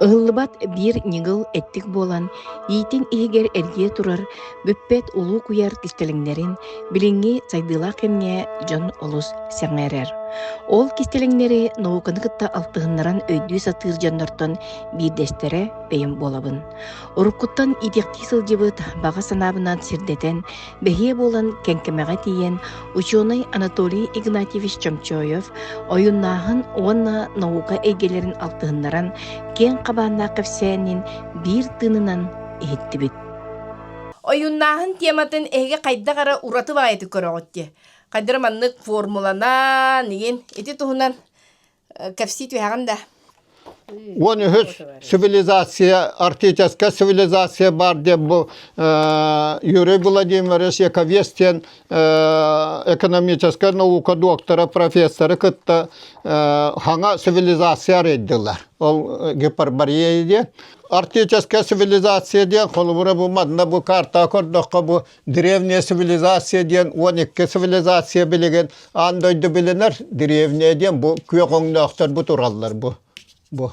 Ыһыллыбат биир ньыгыл эттик буолан, иитин иһигэр эргийэ турар бүппэт улуу куйаар кистэлэҥнэрин билиҥҥи сайдыылаах кэмҥэ дьон олус сэҥээрэр. Ол кистэлэҥнэри науканы кытта алтыһыннаран өйдүү сатыыр дьоннортон биирдэстэрэ бэйэм буолабын. Уруккуттан идиэхтии сылдьыбыт, баҕа санаабынан сирдэтэн, бэһиэ буолан кэҥкэмэҕэ тиийэн учуонай Анатолий Игнатьевич Чомчоев ойуннааһын уонна наука эйгэлэрин алтыһыннаран киэҥ хабааннаах кэпсээнин биир тыынынан иһиттибит. Ойуннааһын тематын эһиги хайдах эрэ ураты баайытык көрөҕүт дии. Хайдара маннык формуланан, игин ити туһунан кэпсии түһэҕин да уон үһүс цивилизация арктическая цивилизация бар диэн бу Юрий Владимирович Яковец диэн экономическай наука доктора профессоры кытта хаҥа цивилизация арыйдылар ол гиперборея диэн арктическая цивилизация диэн холобура бу манна бу картаҕа көрдөххө бу Древняя цивилизация диэн уон икки цивилизация билигин аан дойду билинэр древняя диэн бу күөх өҥнөөхтөр бу тураллар бу бу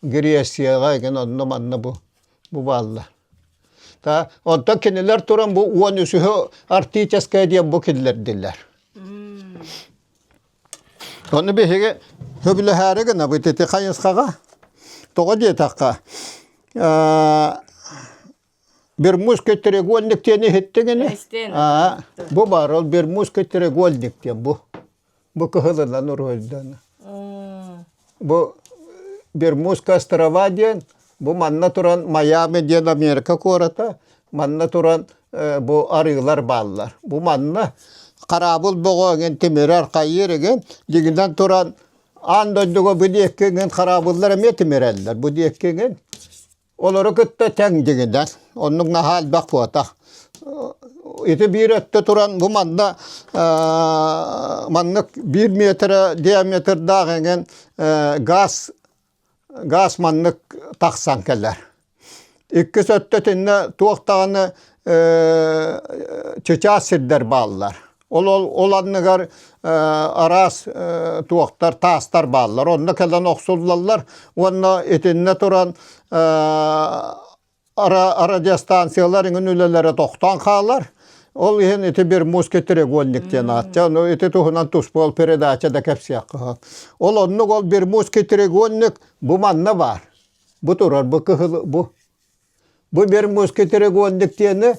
Грецияҕа эгин онно манна бу бу баалла. Та онтон кинилэр туран бу уон үсүһү артическая диэн бу киллэрдилэр. Ону биһиги хөбүлэһээри гынабыт ити хайысхаҕа. Тоҕо диэтэххэ Бермудский треугольник диэн иһиттигини? Бу баар ол Бермудский треугольник диэн бу. Бу кыһылынан уруһуйдана. Бу Бермудская острова диэн, бу манна туран Майами диэн Америка куората, манна туран бу арыылар бааллар. Бу манна хараабыл боҕо эҥин тимирэр хайыыр эҥин дигинэн туран аан дойдуга бу диэкки эҥин хараабыллар эмиэ тимирэллэр. Бу диэкки эҥин Олору кытта тэҥдигинэр. Оннук наһаа элбэх буотах. Ити биир өттө туран бу манна маннык биир метрэ диаметрдаах эҥин газ газ маннык тахсан кэлэр. Иккис өттө итиннэ туох даҕаны чычаас сирдэр бааллар. Ол анныгар араас туохтар, таастар бааллар. Онно кэлэн охсуллаллар уонна итиннэ туран радиостанциялар иҥин үлэлэрэ тохтоон хаалар. Ол иһин ити бир муски треугольник диэн аатча. Ону ити туһунан туспуол передача да кэпсиэххэ. Ол оннук ол бир муски треугольник бу манна баар. Бу турар бу кыһыл бу. Бу бир муски треугольник диэни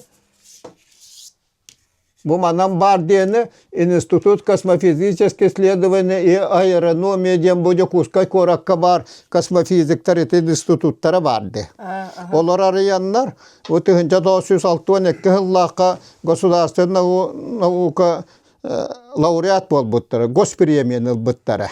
Бу манан баар диэни Институт космофизическое исследование и аэрономия диэн бу Дьокуускай куоракка баар космофизиктар ити институттара баар дии. Олор арыйаннар бу тыһынча тоҕус сүүс алты уон экки сыллаахха государственная наука лауреат буолбуттара, госпремияны ылбыттара.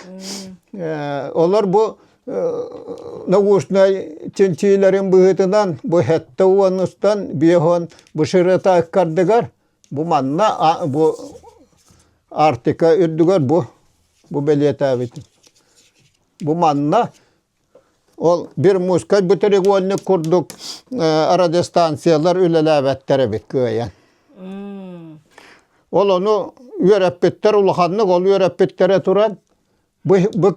Олор бу наушнай чинчиилэрин быһыытынан бу сэттэ уон устан биэһон бышырытааккардыгар бу манна бу Арктика үрдүгэр бу бу бэлиэтээбит бу манна ол бир мускай бутырегольник курдук радиостанциялар үлэлээбэттэр эбит кыайан ол ону үөрэппиттэр улаханнык ол үөрэппиттэрэ туран бу, бу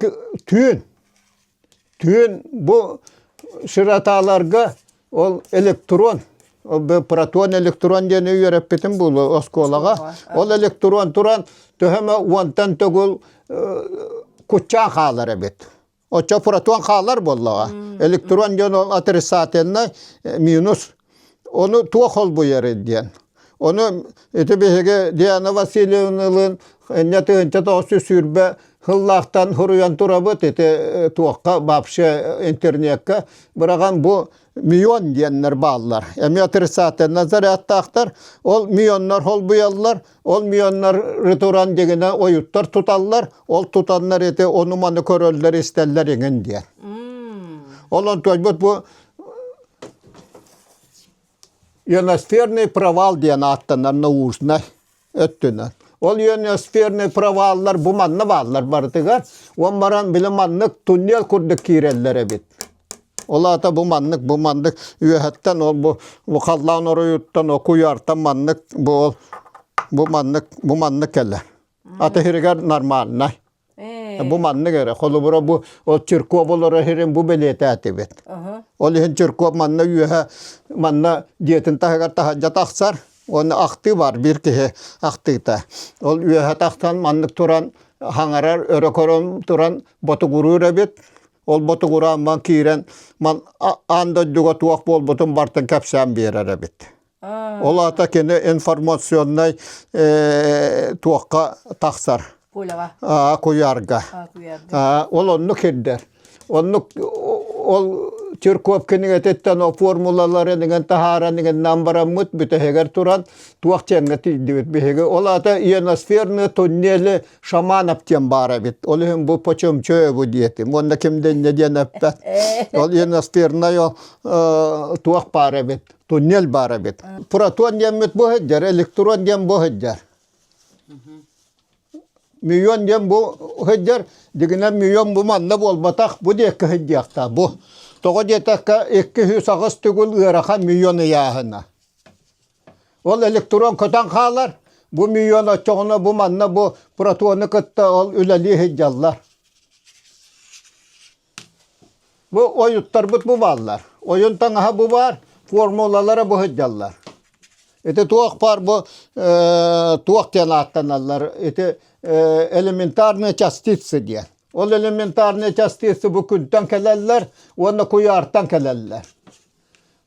түүн түүн бу сиратааларга ол электрон протон электрон диэни үөрэппитим буолуо оскуолаҕа ол электрон туран төһөмө уонтан төгүл куччаан хаалар эбит оччо протон хаалар буоллаҕа электрон дьон ол атрицательнай минус Ону туох холбуйарый диэн. Ону ити биһиги Диана Васильевналыын инньэ тыһыынча тоҕус сүүрбэ сыллаахтан суруйан турабыт ити туохха вообще интернеккэ быраҕан бу мион диэннэр бааллар. Эмиэ отрицательнай зарядтаахтар. Ол мионнар холбуйаллар. Ол мионнары туран дигине ойуттар туталлар. Ол тутаннар ити ону-маны көрөллөр-истэллэр иҥин диэн. Ол онтуйбут бу Ionosферный провал диэн ааттанар наушнай өттүнэн. Ол ionosферный проваллар бу манна бааллар барытыгар. Уон баран били маннык туннел курдук киирэллэр эбит. Ол аата бу маннык, бу маннык үөһэттэн ол бу бу халлаан оройуттан о куйаартан маннык бу ол бу маннык бу маннык кэлэ. Аты иһиригэр нормальнай. Бу маннык эрэ, холобура бу ол Чирков олорор иһин бу бэлиэтээтибит. Ол иһин Чирков манна үөһэ манна дьиэтин таһыгар таһырдьа тахсар уонна ахтыы баар биир киһи ахтыыта. Ол үөһэ тахсан маннык туран хаҥарар өрө көрөн туран ботугуруур эбит. Ол ботугураан ман киирэн ман аан дойдуга туох буолбутун бартын кэпсээн биэрэр эбит. Ол аата кини информационнай туохха тахсар? Куляҕа. Аа, куйаарга. Аа, куйаарга. Аа, ол оннук ирдэр. Оннук ол Тюрков кинигэтиттэн формулаларын игин таһааран игин намбараммыт бүтэһигэр туран туох чеҥҥэ тиийдибит биһиги. Ол аата иеносферный туннели Шаманов диэн баар эбит. Ол иһин бу почем чөө бу диэтим. Уонна ким денне диэн эппэт. Ол иеносферная туох баар эбит. туннель баар эбит. Протон диэммит бу сылдьар, электрон диэн бу сылдьар. Миллион диэн бу сылдьар, дигинэн миллион бу манна буолбатах, бу диэкки сылдьыахта бу. Тоҕо диэтэккэ икки сүүс аҕыс түгүл ыарахан миллион ыйааһына. Ол электрон көтөн хаалар, бу миллион оччоҕуна бу манна бу протону кытта ол үлэлии сылдьаллар. Бу ойуттарбыт бу бааллар. Ойун таҥаһа бу баар, формулалара бу сылдьаллар. Ити туох баар бу э, туох диэн ааттаналлар? Ити э, элементарные частицы диэн. Ол элементарные частицы бу күнтэн кэлэллэр уонна куйаартан кэлэллэр.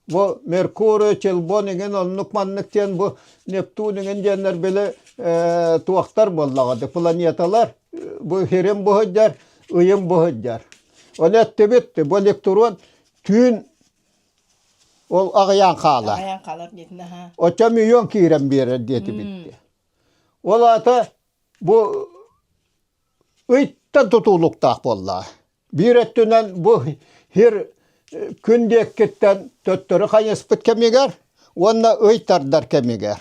Бу Меркурий, Челбон иҥин оннук-маннык диэн бу Нептун иҥин диэннэр били э, туохтар буоллаҕа планеталар бу хирим буһуддьар, ыйым буһуддьар. Оны өттүбүт бу электрон түүн ол аҕыйаан хаала. Аҕыйаан хаалар диэтин аха. Очам үйөн киирэн биэрэр диэти битти. Ол аата бу Ыйтан тутуулуктаах буоллаҕа. Биир өттүнэн бу сир күн диэкиттэн төттөрү хайыспыт кэмигэр уонна ый тардар кэмигэр.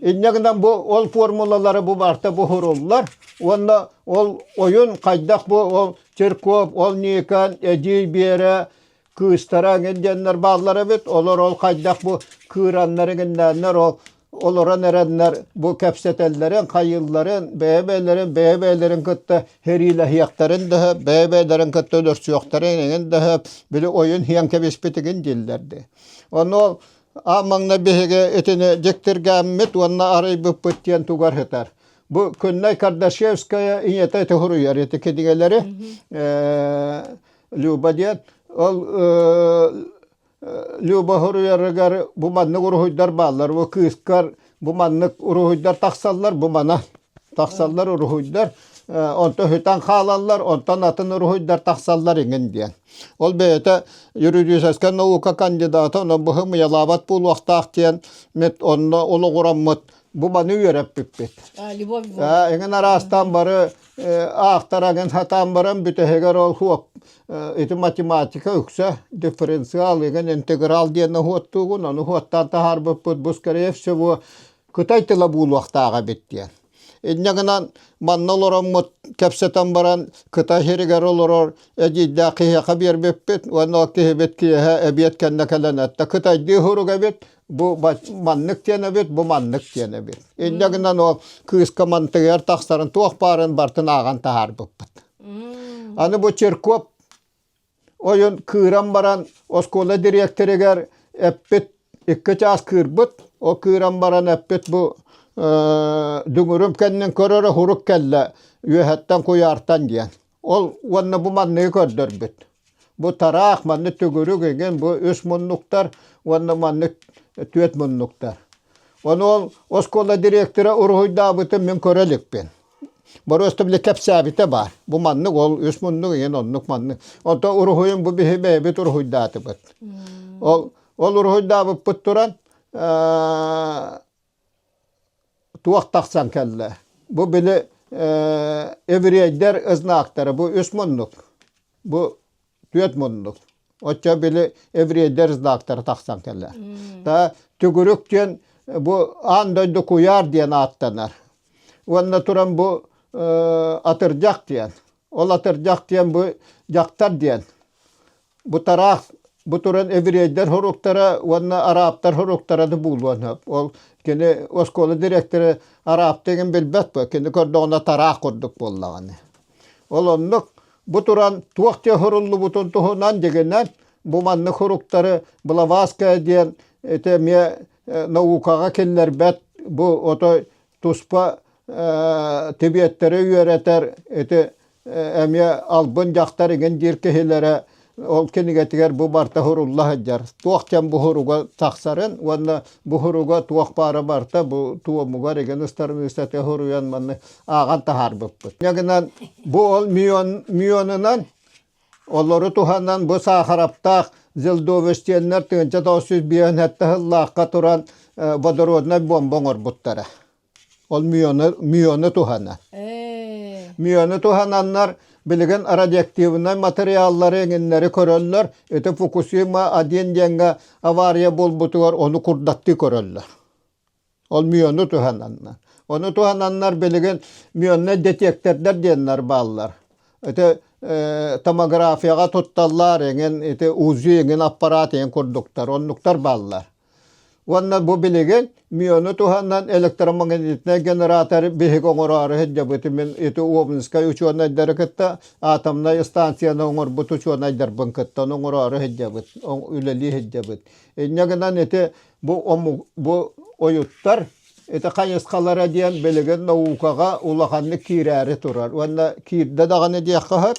Инньэ гынан бу ол формулалары бу барта буһуруллар уонна ол ойун хайдах бу ол церковь, ол Никон, эдьиий Биэрэ кыыстара эҥин диэннэр бааллар эбит олор ол хайдах бу кыыраннар эҥиннээннэр ол олорон эрэннэр бу кэпсэтэллэрин хайыылларын бэйэ-бэйэлэрин бэйэ-бэйэлэрин кытта хериилэһиэхтэрин да бэйэ-бэйэлэрин кытта өлөрсүөхтэрин эҥин да били ойун иһэн кэбиспитигин дииллэрди ону ол а маҥна биһиги итини дьиктиргээммит уонна арыйбыппыт диэн тугар сытар бу күннэй кардашевская ийэтэ ити хоруйар ити кинигэлэри Люба диэн ол Люба хоруйарыгар бу маннык уруһуйдар бааллар. Бу кыыскар бу маннык уруһуйдар тахсаллар, бу мана тахсаллар уруһуйдар. Онто хүтэн хаалаллар, онтон атын уруһуйдар тахсаллар иҥин диэн. Ол бэйэтэ юридическай наука кандидата, онон быһым уйалаабат буолуохтаах диэн мит онно олоҕураммыт бу маны үөрэппиппит. Любовь. Эҥин араастаан бары Аахтарагын хатаан баран бүтэһигэр ол хуоп ити математика үксэ дифференциал игэн интеграл диэн оһуоттуугун ону оһуоттаан таһаарбыппыт бу скорее всего кытай тыла буолуохтаах эбит диэн инньэ гынан манна олороммут кэпсэтэн баран кытай сиригэр олорор эдьиийдээх киһиэхэ биэрбиппит уонна ол киһибит киэһэ эбиэт кэннэ кэлэн этэ кытайдыы сурук эбит Бу маннык диэн эбит, бу маннык диэн эбит. Инньэ гынан ол кыыска мантыгар тахсарын туох баарын бартын ааҕан таһаарбыппыт. Аны бу Черков ойун кыыран баран оскуола дириэктэригэр эппит икки чаас кыырбыт, ол кыыран баран эппит бу дүҥүрүм кэннин көрөрө урук кэллэ үөһэттэн куйаартан диэн. Ол уонна бу манныгы көрдөрбүт. Бу тараах, манны төгүрүк игин, бу үс муннуктар уонна маннык түөрт муннуктар. Ону ол оскуола директора уруһуйдаабытын мин көрө иликпин. Боростов били кэпсээбитэ баар. Бу маннык ол үс муннук ийин оннук маннык. Ото уруһуйун бу биһи бэйэбит уруһуйдаатыбыт. Ол ол уруһуйдаабыппыт туран туох тахсан кэллэ бу били еврейдэр ызнактара бу үс муннук бу түөрт муннук оччо били еврейдэр знактара тахсан кэллэ та түгүрүк диэн бу аан дойду куйаар диэн ааттанар уонна туран бу атырдьах диэн ол атырдьах диэн бу дьахтар диэн бутараах бу туран еврейдэр хоруктара уонна арааптар хоруктараны буулуон сөп ол кини оскуола дириэктэрэ арааптыгын билбэт кини көрдөҕүнэ тараах курдук буоллаҕына ол оннук бу туран туох диэ хоруллубутун туһунан дигинэн бу маннык хоруктары блаваская диэн ити эмиэ наукаҕа киллэрбэт бу ото туспа тибиэттэри үөрэтэр ити эмиэ албын дьахтар игин диир киһилэрэ ол кинигэтигэр бу барта хурулла сылдьар туох кэм бу хуруга тахсарын уонна бу хуруга туох баара барта бу туомугар игин ыстарымыыстаты хуруйан манны ааҕан таһаарбыппыт. Ягынан бу ол мион мионунан Олору туһанан бу саахараптаах Зелдовещеннар тыынча тоҕус сүүс биэһин сэттэ сыллаахха туран водороднай бомба оҥорбуттара. Ол мүйону, мүйону туһанан. Мүйону туһананнар билигин радиоактивнай материаллары эҥиннэри көрөллөр. Ити Фукусима один диэҥҥэ авария буолбутугар ону курдаттыы көрөллөр. Ол мюону туһананнар. Ону туһананнар билигин мюонна детектордар диэннэр бааллар. Ити э, томографияга тутталлар эҥин ити УЗИ эҥин аппарат эҥин курдуктар оннуктар бааллар. Уонна бу билигин мюону туһанан электромагнитный генератор биһиги оҥороору сылдьабыт мин ити Обнинскай учуонайдары кытта атомнай станцияны оҥорбут учуонайдарбын кытта оҥороору сылдьабыт, үлэлии сылдьабыт. Инньэ гынан ити бу омук бу ойуттар ити хайысхалара диэн билигин наукаҕа улаханнык киирээри турар уонна киирдэ даҕаны диэххэ сөп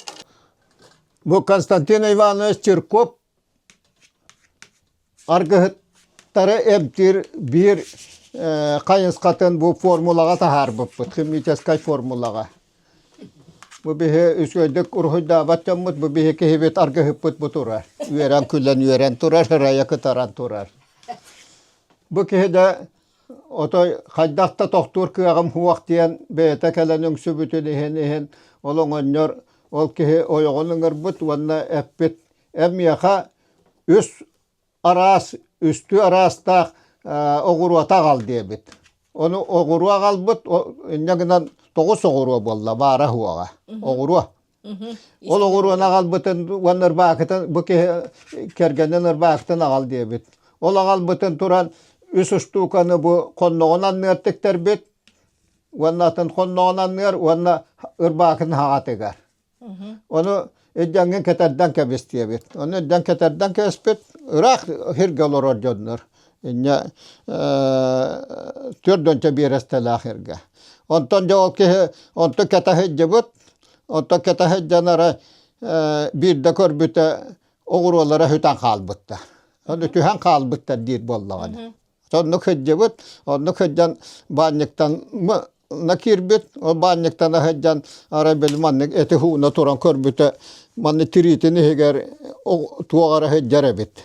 бу Константин Иванович Чирков аргыһыттары эмтиир биир хайысхатын бу формулаҕа таһаарбыппыт химическай формулаҕа Бу биһи үчүгэйдик уруһуйдаабат дьоммут, бу биһи киһибит аргыһыппыт бу турар. Үөрэн күлэн үөрэн турар, ырайа кытаран турар. Бу киһи да отой хайдах да тохтуур кыаҕым суох диэн бэйэтэ кэлэн үҥсүбүтүн иһин иһин ол оҥонньор ол киһи ойоҕун ыҥырбыт уонна эппит эн миэхэ үс араас үстүү араастаах оҕуруота аҕал диэбит. Ону оҕуруо аҕалбыт, инньэ гынан тоҕус оҕуруо буолла баара уһуоҕа. Оҕуруо. Ол оҕуруону аҕалбытын уонна ырбаакытын бу киһи кэргэнин ырбаакытын аҕал диэбит. Ол аҕалбытын туран үс устууканы бу хонноҕун анныар тиктэрбит уонна атын хонноҕун анныар уонна ырбаакын хаҕатыгар. Ону иддэҥҥин кэтэрдэн кэбистиэбит. Ону иддэҥ кэтэрдэн кэбиспит ыраах сиргэ олорор дьоннор. Инньэ түөрт уонча биэрэстэлээх сиргэ. Онтон дьэ ол киһи онтон кэтэ сылдьыбыт, онтон кэтэ сылдьанара биирдэ көрбүтэ оҕуруолара сүтэн хаалбыттар. Ону түһэн хаалбыттар диир буоллаҕына. Оннук сылдьыбыт, оннук сылдьан баанньыктан на киирбит, ол баанньыктана сылдьан, арай били маннык эти һууна туран көрбүтэ, манна тириитин иһигэр туох эрэ сылдьар эбит.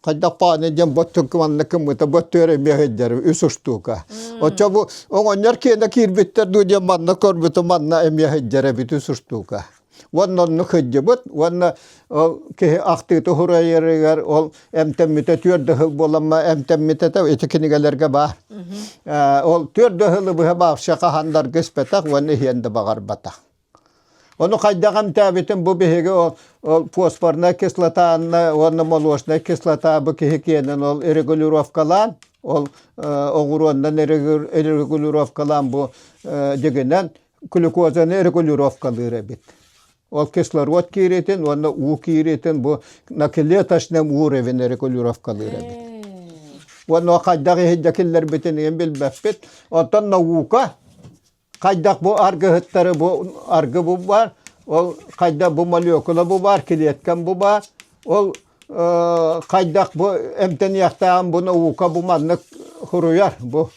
Хайдах паани диэн боччук маннык гыммыта бөттүөр эмиэ сылдьар үс устуука. Оччо бу оҕонньор киэнэ киирбиттэр дуу диэн манна көрбүтэ манна эмиэ сылдьар эбит үс устуука. Уонна онну кыддьыбыт уонна ол киһи ахтыыта уһурайарыгар ол эмтэммитэ түөрт да сыл буолама эмтэммитэ да ити кинигэлэргэ баар. Ол түөрт да сылы быһа баавша хаһандарга испэтэх уонна иһиэн да баҕарбатах. Ону хайдах эмтээбитим бу биһиги ол ол фосфорная кислотанна уонна молочная кислота бу киһи киэнин ол регулировкалаан ол оҕуруондан регулировкалаан бу дигинэн глюкозаны регулировкалыыр эбит. Ол кислород киириитин уонна уу киириитин бу накилеточным уровень регулировкалыыр эбит. Уонна хайдах иһирдэ киллэрбитин ийэн билбэппит. Оттон наука хайдах бу аргыһыттары бу аргы бу бар, ол хайдах бу молекула бу бар, клеткам бу бар. Ол хайдах бу эмтэниэхтээҕин бу наука бу маннык хуруйар бу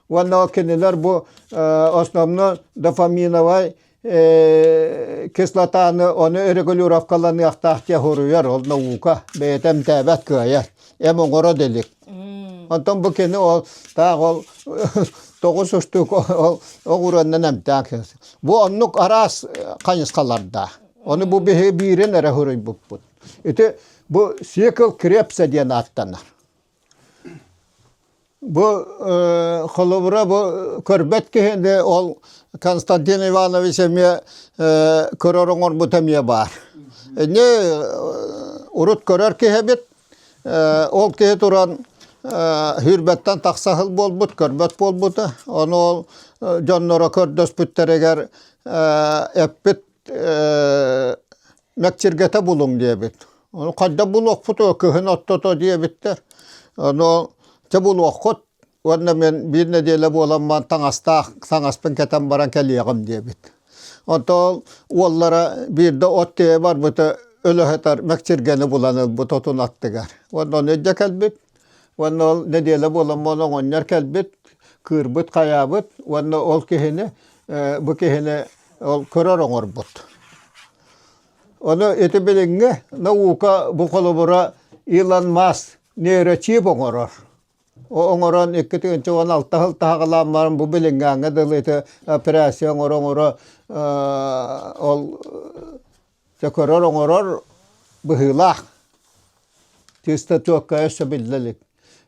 Уонна кинилэр бу основно дофаминовай кислотаны оны регулировкаланыахтаах диэ хоруйар ол наука бэйэтэ эмтээбэт кыайар эм оҥоро да илик онтон бу кини ол таах ол тоҕус устук ол оҕуруоннан эмтээх бу оннук араас хайысхалардаах ону бу биһиги биирин эрэ хоруйбуппут ити бу цикл крепса диэн ааттанар Бу холобура бу көрбөт киһини ол Константин Иванович эмиэ көрөр оҥорбут эмиэ баар. Ини урут көрөр киһибит ол киһи туран сүүрбэттэн тахса сыл буолбут көрбөт буолбута. Ону ол дьонноро көрдөспүттэригэр эппит Мэксиргэтэ булуҥ диэбит. Ону хайда булуохпут уо кыһын оттото диэбиттэр. Ону чэ булуоххут уонна мин биир нэдиэлэ буоламмын таҥастаах таҥаспын кэтэн баран кэлиэҕим диэбит. Оттон уоллара биирдэ от тиэйэ барбыта өлө сытар Мэксиргэни булан ылбыт отун аттыгар. Уонна ону илдьэ кэлбит. Уонна ол нэдиэлэ буолан буолан оҕонньор кэлбит, кыырбыт, хайаабыт уонна ол киһини, бу киһини ол көрөр оҥорбут. Ону ити билиҥҥи наука бу холобура Илон Маск нейрочип оҥорор. Оҥорон икки тыһыынча уон алта сыл таһаҕалаан баран бу билиҥҥээҥҥэ дылы ити операция оҥоро-оҥоро ол сөкөрөр-оҥорор быһыылаах. Чистотекка өссө биллэ илик.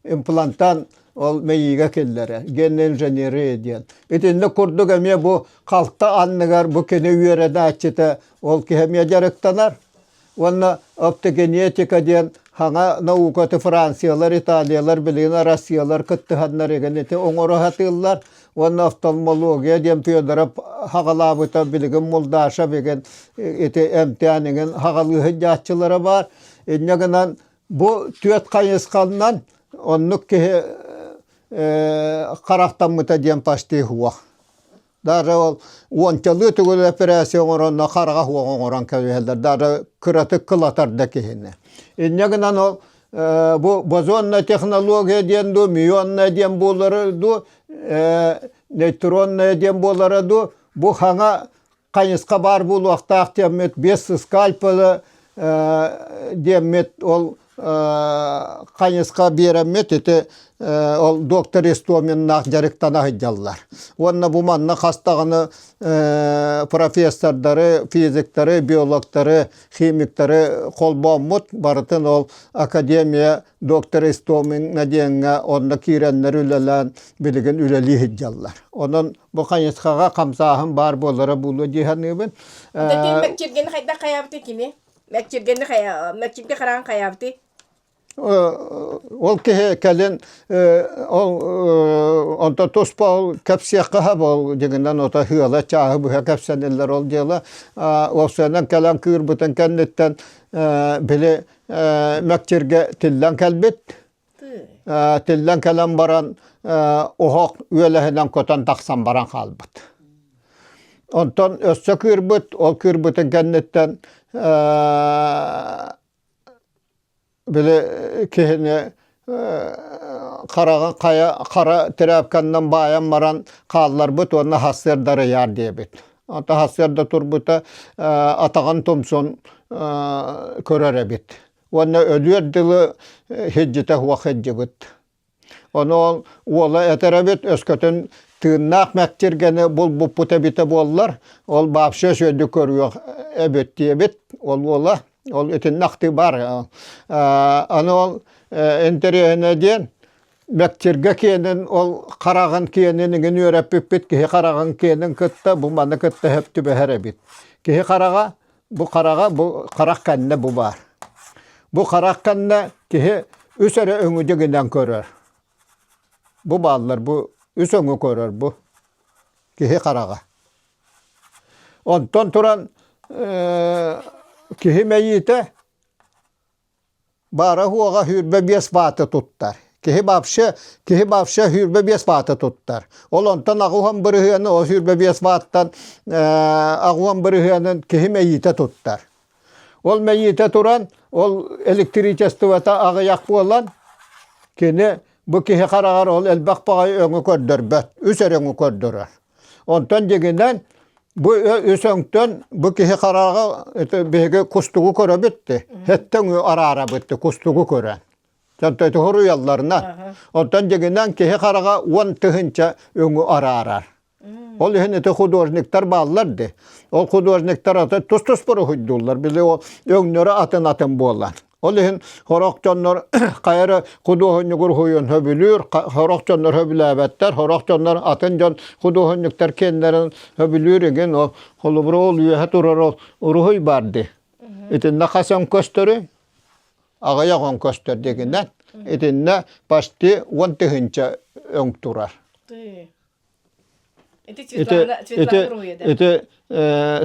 Имплантан ол мэйиигэ киллэрэ, генная инженерия диэн. Итинник курдук эмиэ бу халта анныгар бу кини үөрэнээччитэ ол киһи эмиэ дьарыктанар. Уонна оптогенетика диэн саҥа наукаты Франциялар, Италиялар, билигин Россиялар кыттыһаннар игин ити оҥоро сатыыллар. уонна офтальмология диэн Федоров хаҕалаабыта билигин Мулдаша бүгін ити эмтээнигин хаҕалыы сынньааччылара баар. Инньэ гынан бу түөрт хайысханан оннук киһи харахтаммыта диэн почти суох. Даже ол уончалыы түгүл операция оҥоронно хараҕа суох оҥорон кэбиһэллэр. Даже кыратык кылатар да киһини. Инньэ гынан ол бу бозонная технология диэн дуу, мионная диэн буолара дуу, нейтронная диэн буолара дуу, бу хаҥа хайысха баар буолуохтаах диэммит бес скальпелы диэммит ол хайысха биэриммит ити ол доктор Истоминнаах дьарыктана сылдьаллар. Уонна бу манна хастаҕына профессордары, физиктары, биологтары химиктары холбооммут, барытын ол академия доктора Истомина диэҥҥэ онно киирэннэр үлэлээн билигин үлэлии сылдьаллар. Онон бу хайысхаҕа хамсааһын баар буолара буолуо дии саныыбын. Киргини хайдах хайаабыты кини? Мәкчиргини хайа, Мәкчиргэ хараан хайаабыты? Ол киһи кэлин ол онто туспа ол кэпсиэххэ буол дьиҥинэн ото ыала чааһы быһа кэпсэниллэр ол дьыала ол сыанан кэлэн кыырбытын кэнниттэн били мэкчиргэ тиллэн кэлбит тиллэн кэлэн баран оһох үөлэһинэн көтөн тахсан баран хаалбыт онтон өссө кыырбыт ол кыырбытын кэнниттэн Били киһини хараҕы хайа хара тряпканан баайан баран хаалларбыт уонна сарсыарда арыйаар диэбит. Ата сарсыарда турбута атаҕын тумсун көрөр эбит уонна өлүөр дылы сылдьыта суох сылдьыбыт. Ону уола этэр эбит өскөтүн тыыннаах мэктиргэни булбуппут эбитэ буоллар, ол баапша үсүөдү көрүөх эбит диэбит ол уола. Ол итиннэ ахтыы баар. Аны ол интэриэһинэ диэн мэктиргэ киэнин ол хараҕын киэнин игин үөрэппиппит киһи хараҕын киэнин кытта бу маны кытта өп түбэһэр эбит. Киһи хараҕа Бу хараҕа бу харах кэннэ бу баар. Бу харах кэннэ киһи үс эрэ өҥүдү гынан көрөр. Бу бааллар бу үс өҥү көрөр бу киһи хараҕа. Онтон туран киһи мэйиитэ Баара-уоҕа сүүрбэ биэс бааты туттар. Киһи вообще, киһи вообще сүүрбэ биэс бааты туттар. Ол онтон аҕуһан бырыһыаны ол сүүрбэ биэс бааттан аҕуһан бырыһыанын киһи мэйиитэ туттар. Ол мэйиитэ туран ол электричествота аҕыйах буолан кини бу киһи хараҕар ол элбэх баҕайы өҥү көрдөрбөт, үс өрөҥү көрдөрөр. Онтон дигинэн бу үс өҥтөн бу киһи харааҕа биһиги кустугу көрө бүттэ. Хэттэн араарабытты кустугу көрөн. Төнтөтү хоруйалларына. Оттон дигинэн киһи хараҕа уон тыһынча өҥү араарар. Ол иһин ити художниктар бааллар ди. Ол художниктар аты тус-тус буруһуйдууллар. Били ол өңнөрө атын-атын буолан. Ол иһин хорох дьоннор хайа эрэ худуоһунньугу уруһуйун хөбүлүүр, хорох дьоннор хөбүлээбэттэр, хорох дьоннор атын дьон худуоһунньуктар киэннэрин хөбүлүүр игин ол холобура ол үөһэ турар уруһуй баар дии. Итиннэ хас он көстөрүй? Аҕыйах он көстөр дигинэн. Итиннэ почти он тыһыынча өҥ турар. Ити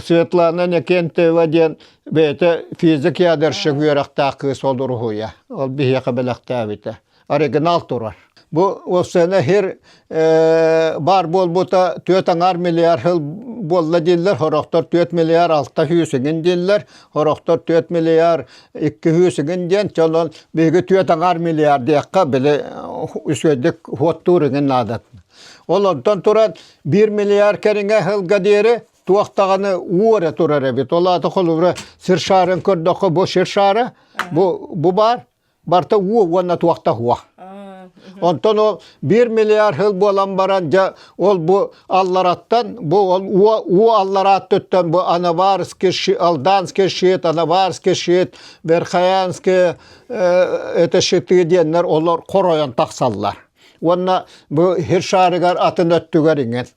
Светлана Некентева диэн бэйэтэ физик ядерщик үөрэхтээх кыыс ол уруһуйа. Ол биһиэхэ бэлэхтээбитэ. Оригинал турар. Бу ол сенэ хир баар буолбута түөрт аҥаар миллиард хыл буолла дииллэр, хорохтор түөрт миллиард алта сүүсүгүн дииллэр, хорохтор түөрт миллиард икки сүүсүгүн диэн, чонон биһиги түөрт аҥаар миллиард диэххэ били үсүөдүк хуоттуур игин наадатын. Ол оттон туран биир миллиард кэриҥэ ыһылга диэри туох даҕаны уу эрэ турар эбит. Ол аата холобура сиршарын көрдөххө бу сиршара бу бу баар барта уу уонна туохта уо. Онтон ол биир миллиард һыл буолан баран дьэ ол бу аллараттан бу ол уу уу алларааттыттан бу Анаварский Алданский щит, Анаварский щит, Верхоянские это щиты диэннэр олор хоройон тахсаллар. уонна бу хир шаарыгар атын өттүгэр иҥэр.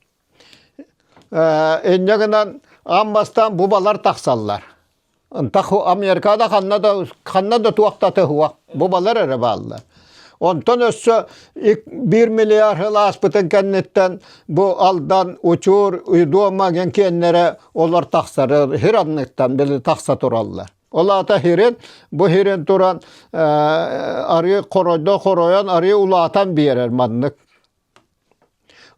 Инньэ гынан ам бастан бу балар тахсаллар. Ынтах Америкада ханна да ханна да туохтата хуах бу балар эрэ бааллар. Онтон өссө 1 миллиард сыл ааспытын кэнниттэн бу Алдан, Учур, Дуома диэн киэннэрэ олор тахсар, хир анныктан били тахса тураллар. Ол аата хирин, бу хирин туран арыы хоройдо хоройон арыы улаатан биэрэр маннык.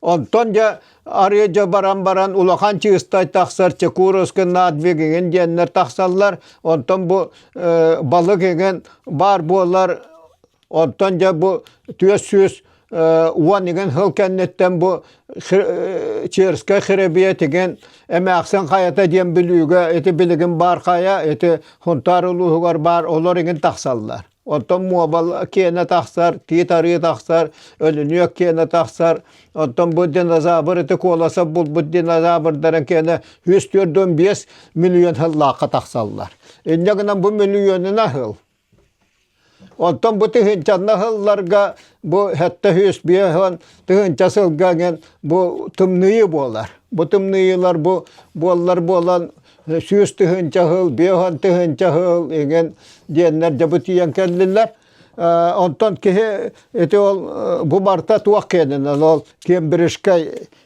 Онтон дьэ арыы дьэ баран баран улахан чыыстай тахсар Чекуровский надвиг игин диэннэр тахсаллар. Онтон бу балык игин баар буолар Оттон дьэ бу түөрт сүүс уон игин хыл кэнниттэн бу Черскай хиребиэ тигин эмээхсин хайата диэн билүүгэ ити билигин баар хайа ити Хунтаар улууһугар баар олор игин тахсаллар. Оттон муобал киэнэ тахсар, тиит арыы тахсар, өлүнүөк киэнэ тахсар. Оттон бу динозавр ити куоласа булбут динозаврдарын киэнэ үс төрт он биэс миллион хыллаахха тахсаллар. Инньэ гынан бу миллионына хыл. Оттон бу тыһыынчанна сылларга бу сэттэ сүүс биэһон тыһыынча сылга эҥин бу тымныйы буолар. Бу тымныйылар бу буоллар буолан сүүс тыһыынча сыл, биэһон тыһыынча сыл эҥин диэннэр дьэ бу тиийэн кэллилэр. Онтон киһи ити ол бу барта туох киэнинэн ол кембриджскай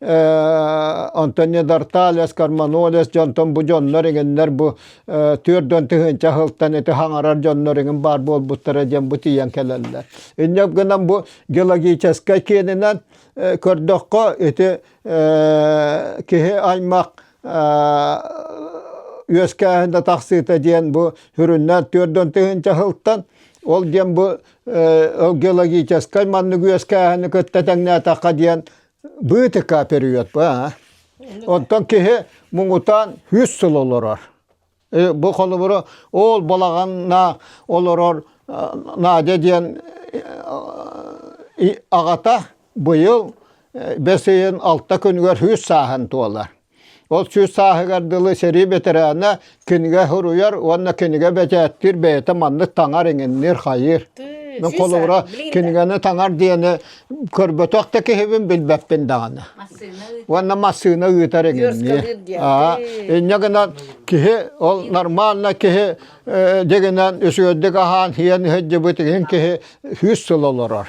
Онтон Недорталес, Карманолес дьонтон бу дьоннор эҥиннэр бу түөрт дон тыһыынча ыһылтан ити хаҥарар дьоннор эҥин баар буолбуттара диэн бу тиийэн кэлэллэр. Инньэ гынан бу геологическай киэнинэн көрдөххө ити киһи аймах үөскээһин да тахсыыта диэн бу хүрүннээн түөрт дон тыһыынча ыһылтан ол диэн бу геологическай маннык үөскээһини кытта тэҥнээтэххэ диэн быытыка период баа. Оттон киһи муҥутаан үс сыл олорор. Бу холобура ол балаҕанна олорор Надя диэн аҕата быйыл бэс ыйын алта күнүгэр үс сааһын туолар. Ол сүүс сааһыгар дылы сэрии бэтэрээнэ кинигэ суруйар уонна кинигэ бэчээттиир бэйэтэ маннык таҥар иҥинниир-хайыыр. Мин холобура кинигэни таҥар диэни көрбөтөх да киһибин билбэппин даҕаны. Уонна массыына ыытар иҥиннии. Аа, инньэ гынан киһи ол нормально киһи дигинэн үсүөрдүк аһаан иһэн иһэрдьибит иһин киһи сүүс сыл олорор.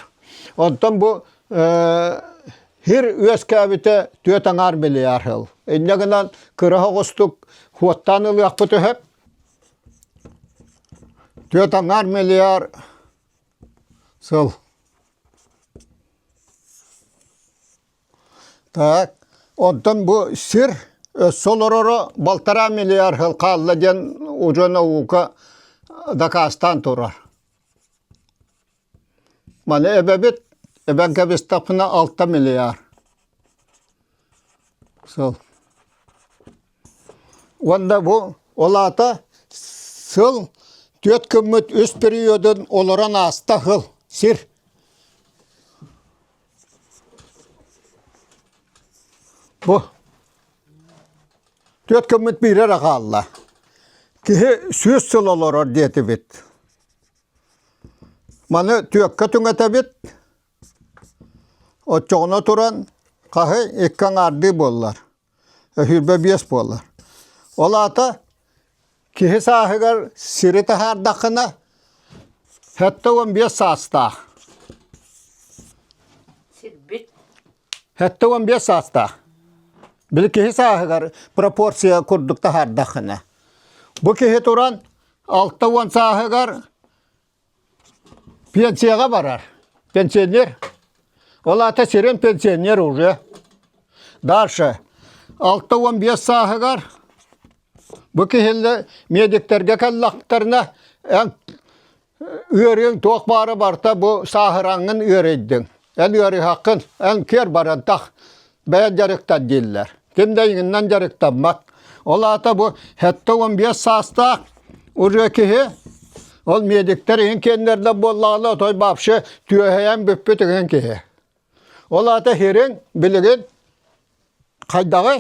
Онтон бу Һир үөскээбитэ түөрт аҥаар миллиард сыл. Инньэ гынан кыра оҕустук хуоттаан ылыахпыт өһөп. Түөрт аҥаар миллиард сыл. Так, онтон бу сир өссө олороро балтараа миллиард сыл хаалла диэн удьуо наука дакаастаан турар. Маны эбэбит эбэм кэбистахпына алта миллиард сыл уонна бу ол аата сыл түөрт күммүт үс периодун олорон ааста сыл сир бу түөрт күммүт биирэ эрэ хаалла киһи сүүс сыл олорор диэтибит Маны түөккэ түҥэтэбит, оччоҕуна туран хаһы икки аҥаардыы буоллар, өһүүрбэ биэс буолар. Ол аата киһи сааһыгар сири таһаардаххына сэттэ уон биэс саастаах. Сирбит Сэттэ уон биэс саастаах. Били киһи сааһыгар пропорция курдук таһаардаххына. Бу киһи туран алта уон сааһыгар пенсияҕа барар. Пенсионер. Ол аата сирин пенсионер уже. Дальше. Алта уон биэс сааһыгар бу киһилэр медиктэргэ кэллэхтэринэ эн Ыарыыҥ туох баары барыта бу сааһыраҥҥын ыарыйдыҥ. Эн ыарыһаххын, эн киэр барантах бэйэн дьарыктан дииллэр. Ким да иҥиннэн дьарыктаммат. Ол аата бу сэттэ уон биэс саастаах уже киһи ол медиктэр иһин киэннэрдэр буоллаҕына отой вообще түөһэйэн бүппүт иҥин киһи. Ол аата сириҥ билигин хайдаҕый?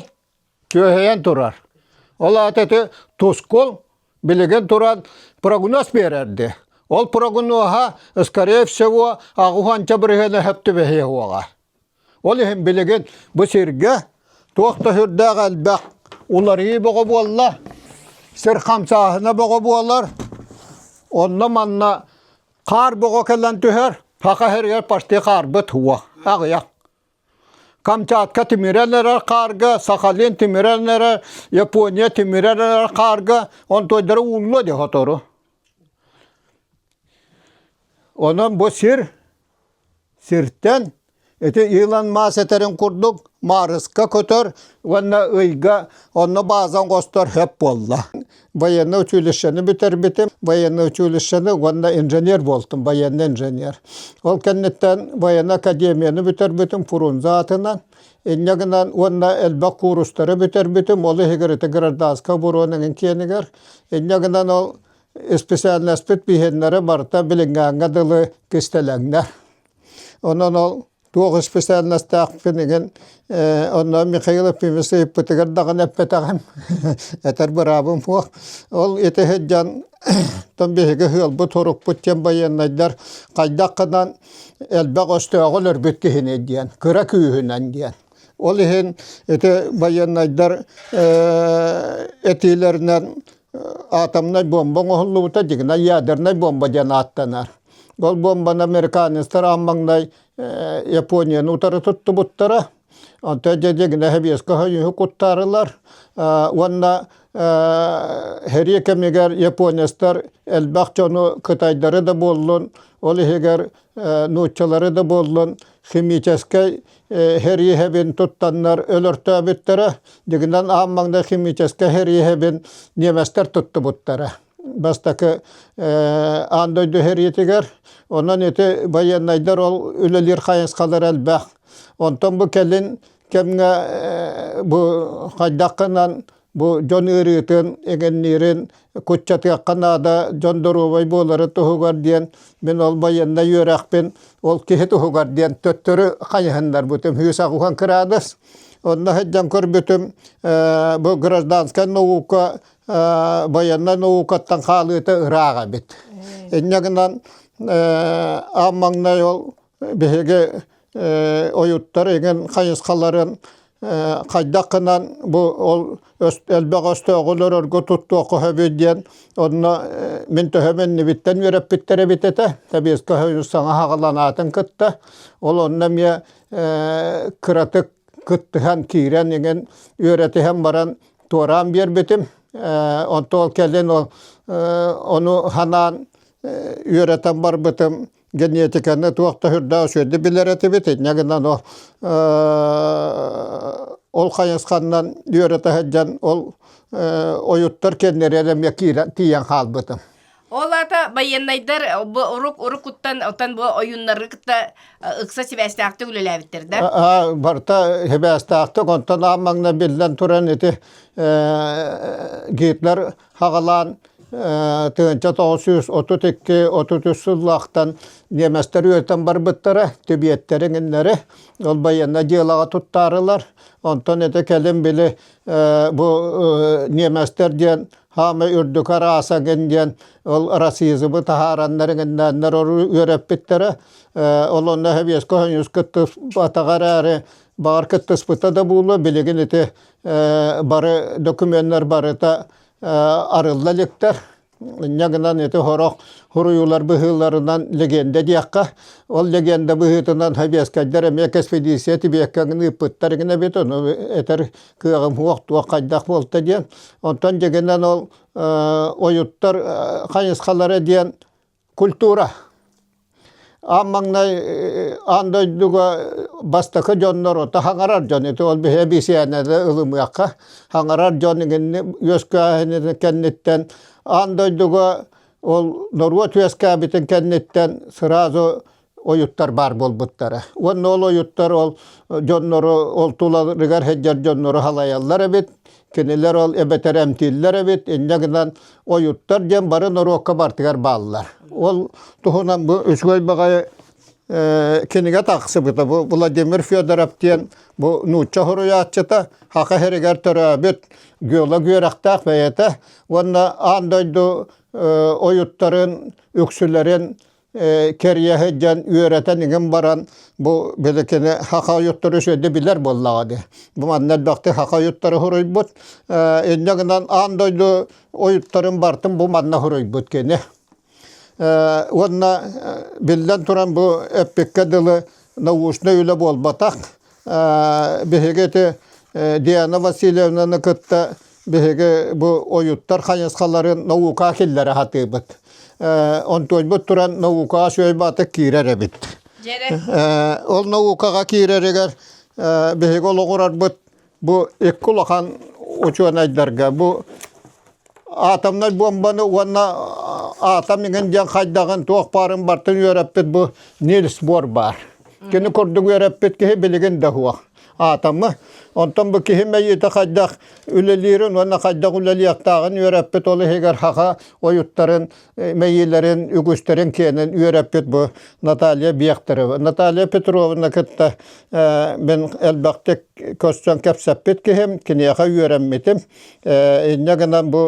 түөһэйэн турар. Ол аата ити Тускул билигин туран прогноз биэрэрди. Ол прогноза, скорее всего, аҕыһанча бырыһыана түбэһиэ уоҕа. Ол иһин билигин бу сиргэ туох да сүрдээх элбэх уларыйыы бөҕө буолла, сир хамсааһына бөҕө буолар. Онно-манна хаар бөҕө кэлэн түһэр, саха сиригэр почти хаарбыт уо аҕыйах. Камчатка тимирэн эрэр хаарга, Сахалин тимирэн эрэр, Япония тимирэн эрэр хаарга, онтуойдара ууллуо дии сотору. Онон бу сир, сиртэн ити Илон Маск этэрин курдук Марска көтөр уонна ыйга онно баазан хостор хөп буолла. военнай училищены бүтэрбитим. Военнай училищены уонна инженер буолтум, военный инженер. Ол кэнниттэн военнай академияны бүтэрбитим фрунзе атынан. Инньэ гынан уонна элбэх куурустары бүтэрбитим. Ол иһигэр ити гражданскай оборонаның киэнигэр. Инньэ гынан ол исписээлнэспит биһиннэри барыта билиҥҥээҥҥэ дылы кистэлэҥнэ. Онон ол туох исписэлинэстээхпин игин онно Михаил Ефимович ыйыппытыгар даҕаны эппэтэҕим этэр быраабым суох ол ити сыдьан тон биһиги сыалбыт сурукпут диэн байыаннайдар хайдах гынан элбэх өстөөҕү өлөрбүт киһини диэн кыра күүһүнэн диэн ол иһин ити байыаннайдар этиилэринэн атомнай бомба оҥоһуллубута дигина ядернай бомба диэн ааттанар. Ол бомбаны американецтар аан маҥнай Японияны утары туттубуттара. Онтон дигина хэбиэскэ хойуһу куттаарылар уонна хэрийэ кэмигэр японецтар элбэх дьону кытайдары да буоллун ол иһигэр нууччалары да буоллун химическэй хириэһэбин туттаннар өлөртөөбүттэрэ дигинэн аам маҥна химическэй хириэһэбин немецтэр туттубуттара бастакы аан дойду хириитигэр онон ити байыаннайдар ол үлэлиир хайысхалара элбэх онтон бу кэлин кэмҥэ бу хайдаххынан бу дьон ыарыытын, эҥинниирин куччатыахха наада, дьон доруобай буоларын туһугар диэн мин ол байыаннай үөрэхпин ол киһи туһугар диэн төттөрү хайыһыннарбытым саҕуһан кыраадыс онно сылдьан көрбүтүм бу гражданскай наука байыаннай наукаттан хаалыыта ыраах эбит инньэ гынан ам маҥнай ол биһиги ойуттар иҥин хайысхаларын хайдаххынан бу ол элбэх өстөөҕү өлөрөргө туттуохха сөбүй диэн онно мин төһө иннибиттэн үөрэппиттэр эбит этэ тэбиэскэ үс саҥа хаҕыланаатын кытта ол онно эмиэ кыратык кыттыһан киирэн иҥин үөрэтиһэн баран туораан биэрбитим онто ол кэлин ол ону ханаан үөрэтэн барбытым генетиканы туох да үрдээх үсүөрдү билэр этибит инньэ гынан ол ол хайысханнан үөрэтэ сылдьан ол ойуттар кэннэри эмиэ киирэн тиийэн хаалбытым ол аата байыаннайдар бу урук урукуттан отан бу ойууннары кытта ыкса сибээстээхтик үлэлээбиттэр да барта сибээстээхтик онтон аан маҥна биллэн туран ити гитлер хаҕалаан тыһыынча тоҕус сүүс отут икки отут үс сыллаахтан ньиэмэстэр үөтэн барбыттара тибиэттэр иҥиннэри ол байыанна дьыалаҕа туттаарылар онтон ити кэлин били бу ньиэмэстэр диэн хаама үрдүк араасагын диэн ол расизмы таһаараннар иҥиннээннэр үөрэппиттэрэ ол онно хэбиэскэ хоньуус кыттыспатаҕа эрээри баҕар кыттыспыта да буолуо билигин ити бары докуменнар барыта арылла иликтэр. Инньэ гынан ити сорох суруйуулар быһыыларынан легенда диэххэ, ол легенда быһыытынан сэбиэскэйдэр эмиэ кэспэдииссийэ тибиэккэҥин ыыппыттар гына эбит, ону этэр кыаҕым суох, туох хайдах буолта диэн. Онтон дьэ гынан ол ойуттар хайысхалара диэн культура аан маҥнай аан дойдуга бастакы дьоннору хаҥарар дьон ити ол эбисиэнэни ылымыахха хаҥарар дьон игинни үөскээһинин кэнниттэн аан дойдуга ол норуот үөскээбитин кэнниттэн сразу ойуттар баар буолбуттара. Уонна ол ойуттар ол дьоннору ол туларыгар сылдьар дьоннору халайаллар эбит. Кинилэр ол эбэтэр эмтииллэр эбит. Инньэ гынан ойуттар диэн бары норуокка бартыгар бааллар. Ол туһунан бу үчүгэй баҕайы кинигэ тахсыбыта. Бу Владимир Федоров диэн бу нуучча суруйааччыта Хаха сиригэр төрөөбүт Гүөла Гүөрэхтээх бэйэтэ уонна аан дойду ойуттарын, үксүлэрин кэрийэ сылдьан үөрэтэн иҥин баран бу били кини саха ойуттары үчүгэйдик билэр буоллаҕа дии. Бу манна элбэхтик саха ойуттары суруйбут. Инньэ гынан аан дойду ойуттарын бартын бу манна суруйбут кини. Уонна биллэн туран бу эппиккэ дылы научнай үлэ буолбатах. биһиги ити Диана Васильевнаны кытта биһиги бу ойуттар хайысхаларын наукаҕа киллэрэ сатыыбыт. Онтуойбут туран наукаҕа үчүгэйбаатык киирэр эбит. Ол наукаҕа киирэригэр биһиги олоҕурарбыт бу икки улахан учуонайдарга бу атомнай буомбаны уонна атом иҥин диэн хайдаҕын туох баарын бартын үөрэппит бу Нильс Бор баар. Кини курдук үөрэппит киһи билигин да суох атомы. Онтон бу киһи мэйиитэ хайдах үлэлиирин уонна хайдах үлэлиэхтээҕин үөрэппит ол иһигэр хаха ойуттарын мэйиилэрин, үгүстэрин киэнин үөрэппит бу Наталья Бехтерева. Наталья Петровна кытта мин элбэхтик көрсөн кэпсэппит киһим, киниэхэ үөрэммитим. Инньэ гынан бу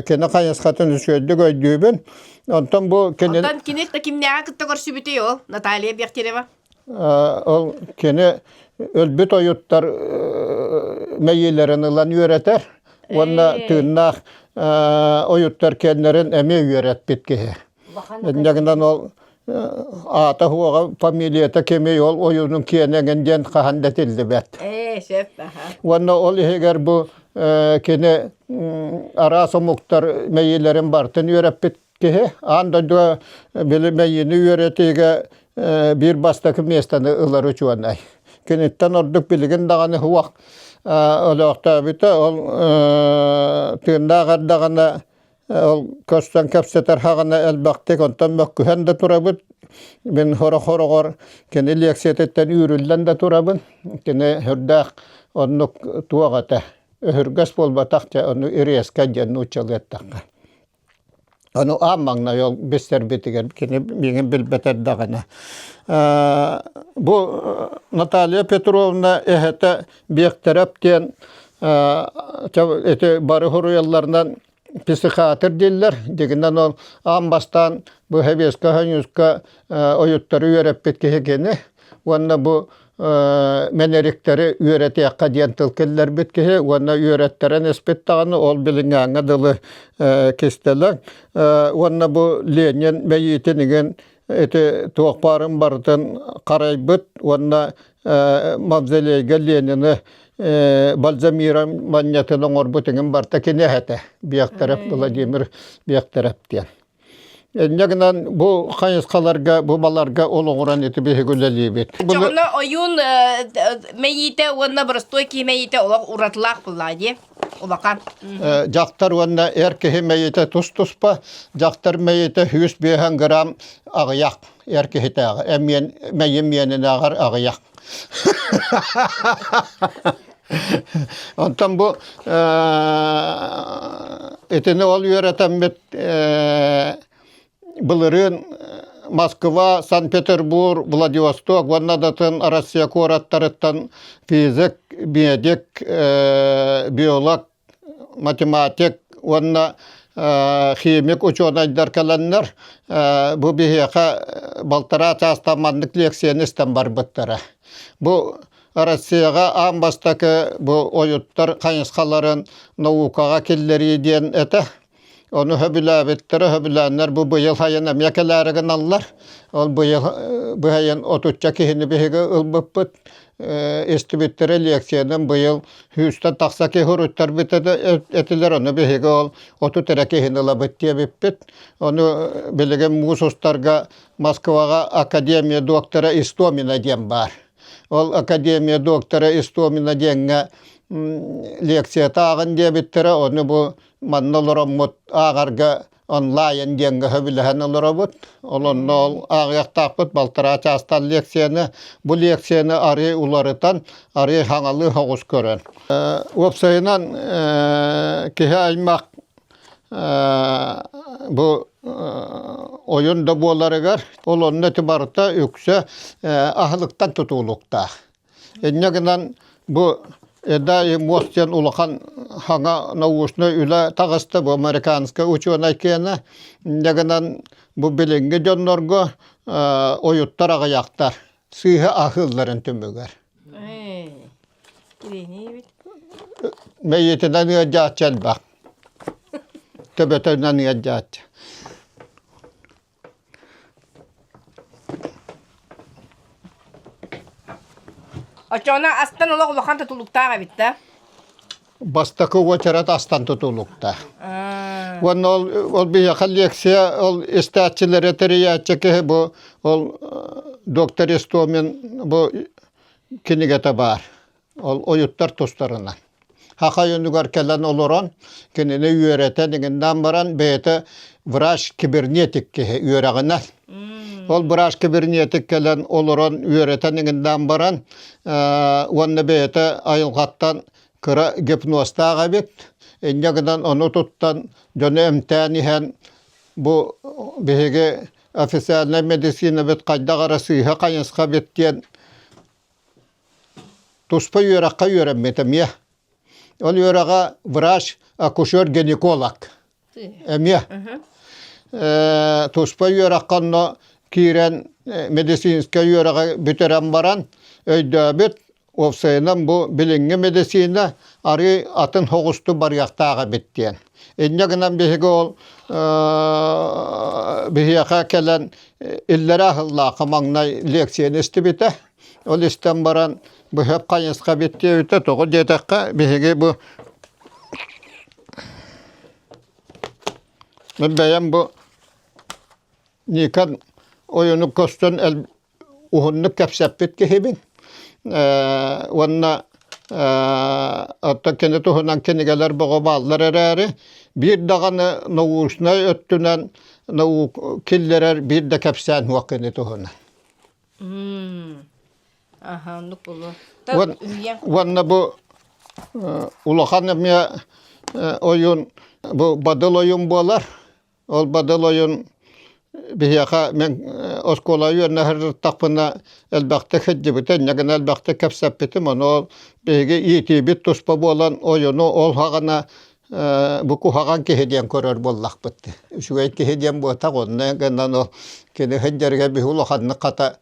кини хайысхатын үчүгэйдик өйдүүбүн. Онтон бу кини... Оттон кини кимнээҕи кытта көрсүбүтүй ол Наталья Бехтерева? Ол кини өлбүт ойуттар мэйиилэрин ылан үөрэтэр уонна тыыннаах ойуттар кэннэрин эмиэ үөрэппит киһи. Инньэ гынан ол аата-суоҕа, фамилията кимий, ол ойуунун киэнэ эҥин диэн хаһан да этиллибэт. Ээ, сөп, аха. Уонна ол иһигэр бу кини араас омуктар мэйиилэрин барытын үөрэппит Киһи аан дойдуга били мэйиини үөрэтиигэ биир бастакы миэстэни ылар учуонай. Киниттэн ордук билигин даҕаны уһуах олохтообута. Ол тыыннаах эрдэҕинэ ол көрсөн кэпсэтэр хаҕына элбэхтик онтон мөккүһэн да турабыт. Мин сорох сороҕор кини лиэксийэтиттэн үүрүллэн да турабын. Кини сүрдээх оннук туох этэ өһүргэс буолбатах дьэ ону ириэскэ диэн нууччалыы эттэххэ. Ону аан маҥнай ол бистэрбитигэр кини миигин билбэт эрдэҕинэ бу Наталья Петровна эһэтэ Биэктэрап диэн ити бары хоруйалларынан психиатр дииллэр дигинэн ол аан бастаан бу сэбиэскэ хоньуска ойуттары үөрэппит киһи кини уонна бу мэнэриктэри үөрэтиэххэ диэн тыл киллэрбит киһи уонна үөрэттэрэн испит даҕаны ол билиҥҥээҥҥэ дылы кистэлэҥ уонна бу Ленин мэйиитин игин ити туох баарын барытын харайбыт уонна мавзолейга Ленини Бальзамира манньатын оҥорбут иҥин барта киниэхэтэ Биэхтэрэп Владимир Биэхтэрэп диэн Инньэ гынан бу хайысхаларга, бу баларга олоҕуран ити биһиги үлэлиибит. Дьоҕуна ойуун мэйиитэ уонна боростуой киһи мэйиитэ олох уратылаах буоллаа дии. Улахан. Дьахтар уонна эр киһи мэйиитэ тус-туспа. Дьахтар мэйиитэ сүүс биэһэн грамм аҕыйах эр киһитээҕи. Эмиэн мэйим миэнинээҕэр аҕыйах. Онтон бу итини ол үөрэтэммит былырыын Москва, Санкт-Петербур, Владивосток уонна датын Россия куораттарыттан физик, медик, биолог математик уонна химик учуонайдар кэлэннэр бу биһиэхэ балтараа чаастан маннык лиэксийэни истэн барбыттара бу Россияҕа аан бастакы бу ойуттар хайысхаларын наукаҕа киллэрии диэн этэ Ону сөбүлээбиттэр, сөбүлээннэр бу быйыл сайын эмиэ кэлээри гыналлар. Ол быйыл бу сайын отучча киһини биһиги ылбыппыт. Истибиттэрэ лекциянан быйыл сүүстэн тахса киһи уруттар этилэр, ону биһиги ол отут эрэ киһини ылабыт диэбиппит. Ону билигин муус устарга Москваҕа академия доктора Истомина диэн баар. Ол академия доктора Истомина диэҥҥэ лекцията ааҕын диэбиттэрэ, ону бу Манна олороммут ааҕарга онлайн диэҥҥэ сөбүлэһэн олоробут. Олонно ол ааҕыахтаахпыт балтараа чаастан лекцияны, бу лекцияны арыый уларытан, арыый хаҥалыы соҕус көрөн. Уопсайынан киһи аймах бу ойун да буоларыгар ол онно барыта үксэ аһылыктан тутулуктаах. Инньэ гынан бу Эдай Мос диэн улахан саҥа научнай үлэ таҕыста. Бу американскай учуонай киэнэ. Инньэ гынан бу билиҥҥи дьоннорго ойуттар аҕыйахтар сыыһа аһыылларын түмүгэр. Мэйиитинэн ыалдьааччы элбэх. Төбөтүнэн ыалдьааччы. Очоно астан олох улахан тутулуктаах эбит да? Бастакы уочарат астан тутулукта. Уонна ол, ол биһиэхэ лекция ол истээччилэри тэрийээччи киһи бу ол доктор Истомин бу кинигэтэ баар. Ол ойуттар тустарынан. Хахай онугар кэлэн олорон, кинини үөрэтэн иҥиннээн баран, бэйэтэ врач кибернетик киһи үөрэҕинэ. Ол быраас кибернетик кэлэн олорон үөрэтэн иҥиннээн баран, уонна бэйэтэ айылҕаттан кыра гипнозтаах эбит. Инньэ гынан ону туттан дьону эмтээн иһэн бу биһиги официальнай медицинабыт хайдах эрэ сыыһа-хайысха эбит диэн Туспа үөрэххэ үөрэммит эмиэ. Ол үөрэҕэ врач, акушер-гинеколог эмиэ. Э, туспа үөрэххэ онно киирэн э, медицинскэй үөрэҕи бүтэрэн баран өйдөөбүт, уопсайынан бу билиҥҥи медицина арыый атын хоҕусту барыахтаах эбит диэн. Инньэ гынан биһиги ол биһиэхэ кэлэн иллэрээ сыллаахы маҥнай лиэксийэни истибитэ. Ол истэн баран быһа хайысха бүттүөбүтэ тоҕо диэтэххэ биһиги бу бэйэм бу Ника ойуну көстөн уһуннук кэпсэппит киһибин уонна оттон кини туһунан кинигэлэр бөҕө бааллар эрээри биир даҕаны научнай өттүнэн наук киллэрэр биир да кэпсээн суох кини туһунан уонна бу улахан эмиэ ойун бу бадыл ойун буолар Ол бадыл ойун биһиэхэ мен оскуола үөрнэһэртахпына элбэхтэ кырдьыбытын, ньагына элбэхтэ кэпсэппитим, ону биһиги иитиибит туспа буолан ойуну ол хаҕына бу куһаҕан киһи диэн көрөр буоллахпыт. Үчүгэй киһи диэн буотах онно гынан ол кини сылдьарыгар биһи улаханнык хата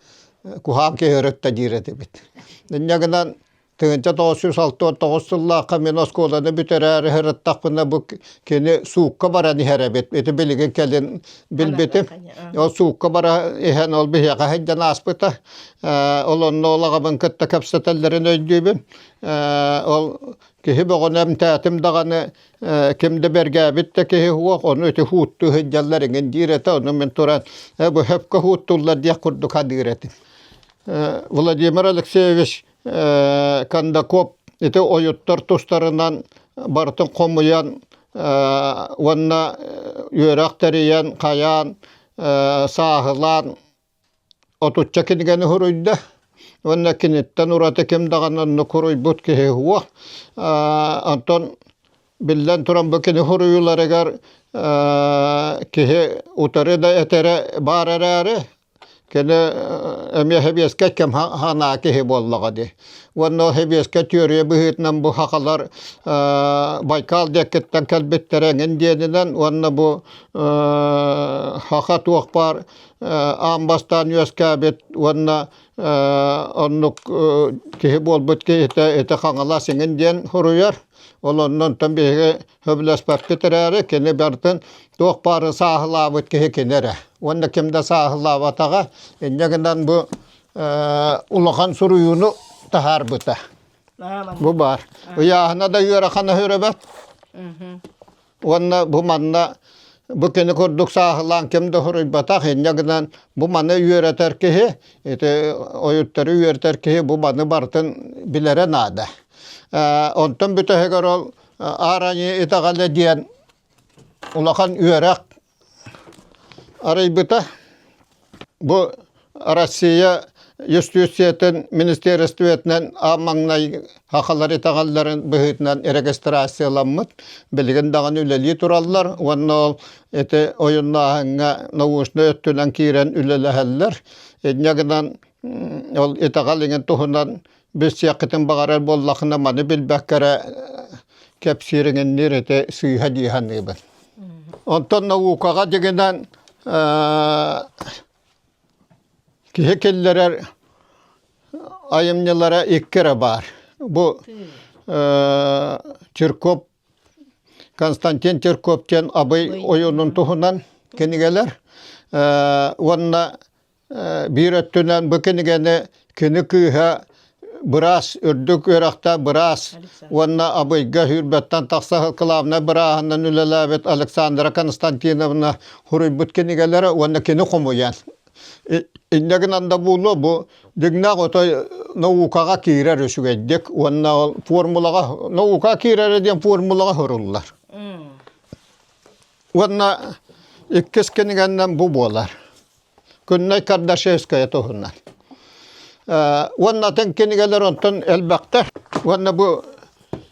куһаҕан киһи өрүттэ диир этибит. Инньэ гынан Тыһынча тоҕус сүүс алта уон тоҕус сыллаахха мин оскуоланы бүтэрээри сырыттахпына бу кини суукка баран иһэр эбит. Ити билигин кэлин билбитим. Ол суукка бара иһэн ол биһиэхэ сылдьан ааспыта. Э, ол онно ол аҕабын кытта кэпсэтэллэрин өйдүүбүн. Э, ол киһи бөҕөнө эмтээтим даҕаны э, ким да бэргээбит да киһи уох ону ити хууттуу сылдьаллар эҥин диир этэ ону мин туран бу хөпкө хууттуллар диэх курдук хадыыр этим. Владимир Алексеевич Кандакоп ити ойуттар тустарынан барытын хомуйан уонна үөрэх тэрийэн, хайаан сааһылаан отучча кинигэни суруйда уонна киниттэн ураты ким даҕаны оннук суруйбут киһи суох. Онтон биллэн туран бу кини суруйууларыгар киһи утары да этэрэ баар эрээри Кини эмиэ сэбиэскэй кэм санаа киһи буоллаҕа дии. Уонна ол сэбиэскэй түөрүйэ быһыытынан бу сахалар Байкал диэкиттэн кэлбиттэрэ эҥин диэнинэн уонна бу саха туох баар аан бастаан үөскээбит уонна оннук киһи буолбут киһитэ ити Хаҥалас эҥин диэн суруйар. Ол онно онтон биһиги сөбүлэспэккит эрээри, кини бартын туох баары сааһылаабыт киһи кини эрэ. Уонна ким да сааһылаабатаҕа, инньэ гынан бу улахан суруйууну таһаарбыта. Бу баар. Ыйааһына да ыарахан өһүрөбөт. Уонна бу манна бу кини курдук сааһылаан ким да суруйбатах, инньэ гынан бу маны үөрэтэр киһи, ити ойуттары үөрэтэр киһи бу маны бартын билэрэ наада. Онтон бүтэһигэр ол аараньы итаҕаны диэн улахан үөрэх арыйбыта. Бу Россия юстициятын министиэристибэтинэн аан маҥнай хахалар итэҕэллэрин быһыытынан регистрацияламмыт, билигин даҕаны үлэлии тураллар уонна ол ити ойуннааһыҥҥа научнай өттүнэн киирэн үлэлэһэллэр. Инньэ гынан ол итэҕэл иҥин туһунан Билсиэххитин баҕарар буоллахына, маны билбэккэ эрэ кэпсиириҥинниир ити сыыһа дии саныыбын. Онтон наукаҕа дьигинэн киһи киллэрэр айымньылара икки эрэ баар. Бу Чирков, Константин Чирков диэн абый ойуунун туһунан кинигэлэр уонна Биир өттүнэн бу кинигэни кини кыыһа быраас, үрдүк үөрэхтээх быраас уонна Абыйга сүүрбэттэн тахса кылаабынай бырааһынан үлэлээбит Александра Константиновна суруйбут кинигэлэрэ уонна кини хомуйан. Инньэ гынан да буолуо бу дьиҥнээх отой наукаҕа киирэр үчүгэйдик уонна ол формулаҕа наукаҕа киирэрэ диэн формулаҕа суруллар. Уонна иккис кинигэннэн бу буолар. Күннэй Кардашевская туһунан. Уонна атын кинигэлэр онтон элбэхтэр. Уонна бу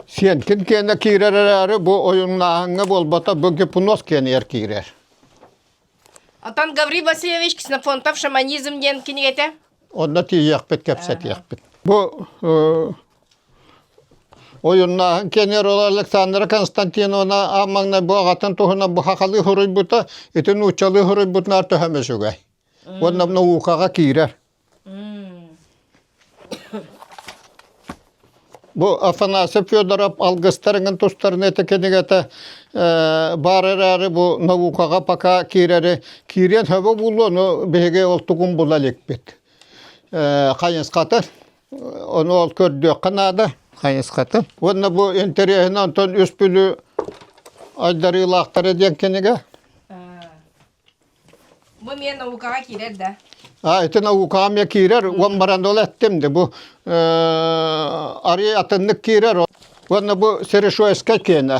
Сиэнкин киэнэ киирэр эрээри, бу ойуннааһыҥҥа буолбата бу гипноз киэнигэр киирэр. Оттон Гаврил Васильевич «Ксенофонтов шаманизм» диэн кинигэтэ Онно тиийиэхпит, кэпсэтиэхпит. Бу ойуннааһын кенер ол Александра Константиновна аан маҥнай бу аҕатын туһунан бу хахалыы хоруйбута, итин нууччалыы хоруйбутунаар төһө үчүгэй. Уонна мунаукаҕа киирэр. Бу Афанасий Федоров алгыстарыҥын тустарын этэ кинигэтэ баар эрээри бу наукаҕа пока киирэри киириэн сөбө буолуо ону биһиги ол тугун була иликпит. Хайысхата ону ол көрдүөххэ наада хайысхата. Уонна бу интэриэһинэн онтон үс бүлүү айдарыылаахтара диэн кинигэ. Бу эмиэ наукаҕа киирэр да? А, ити наукаҕа эмиэ киирэр. Уон баран ол эттим де бу арыый атыннык киирэр. Уонна бу серешоевскай киэнэ.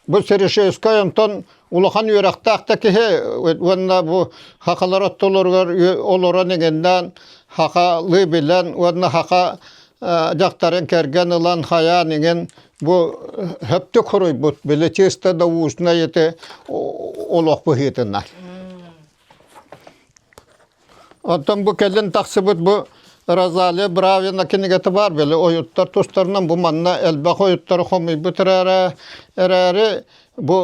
Бу серешоевскай онтон улахан үөрэхтээх да киһи уонна бу хахалар оттолоругар олорон эҥиннээн хаха лыы билэн уонна хаха дьахтарын кэргэн ылан хайаан иҥин Бу сөптөк хоруйбут, били чисто научное это олох быһыытынан. Оттон бу кэлин тахсыбыт бу Розалия Бравина кинигэтэ бар били ойуттар тустарынан бу манна элбэх ойуттары хомуйбут эрээри эрээри бу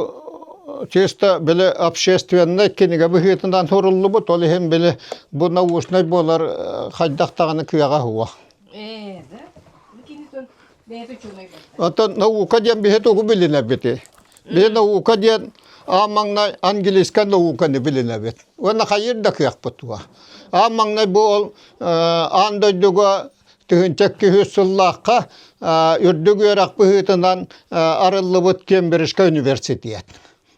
чисто били общественный кинигэ быһыытынан суруллубут ол иһин били бу научный буолар хайдах даҕаны кыаҕа уһуо. Ээ да? Оттон наука диэн биһи тугу билинэбити? Биһи наука диэн аан маҥнай английскай науканы билинэбит. Уонна хайыыр да кыахпыт туох. Аан маҥнай бу ол аан дойдуга тыһынча киһи сыллаахха үрдүк үөрэх быһыытынан арыллыбыт Кембриджскай университет.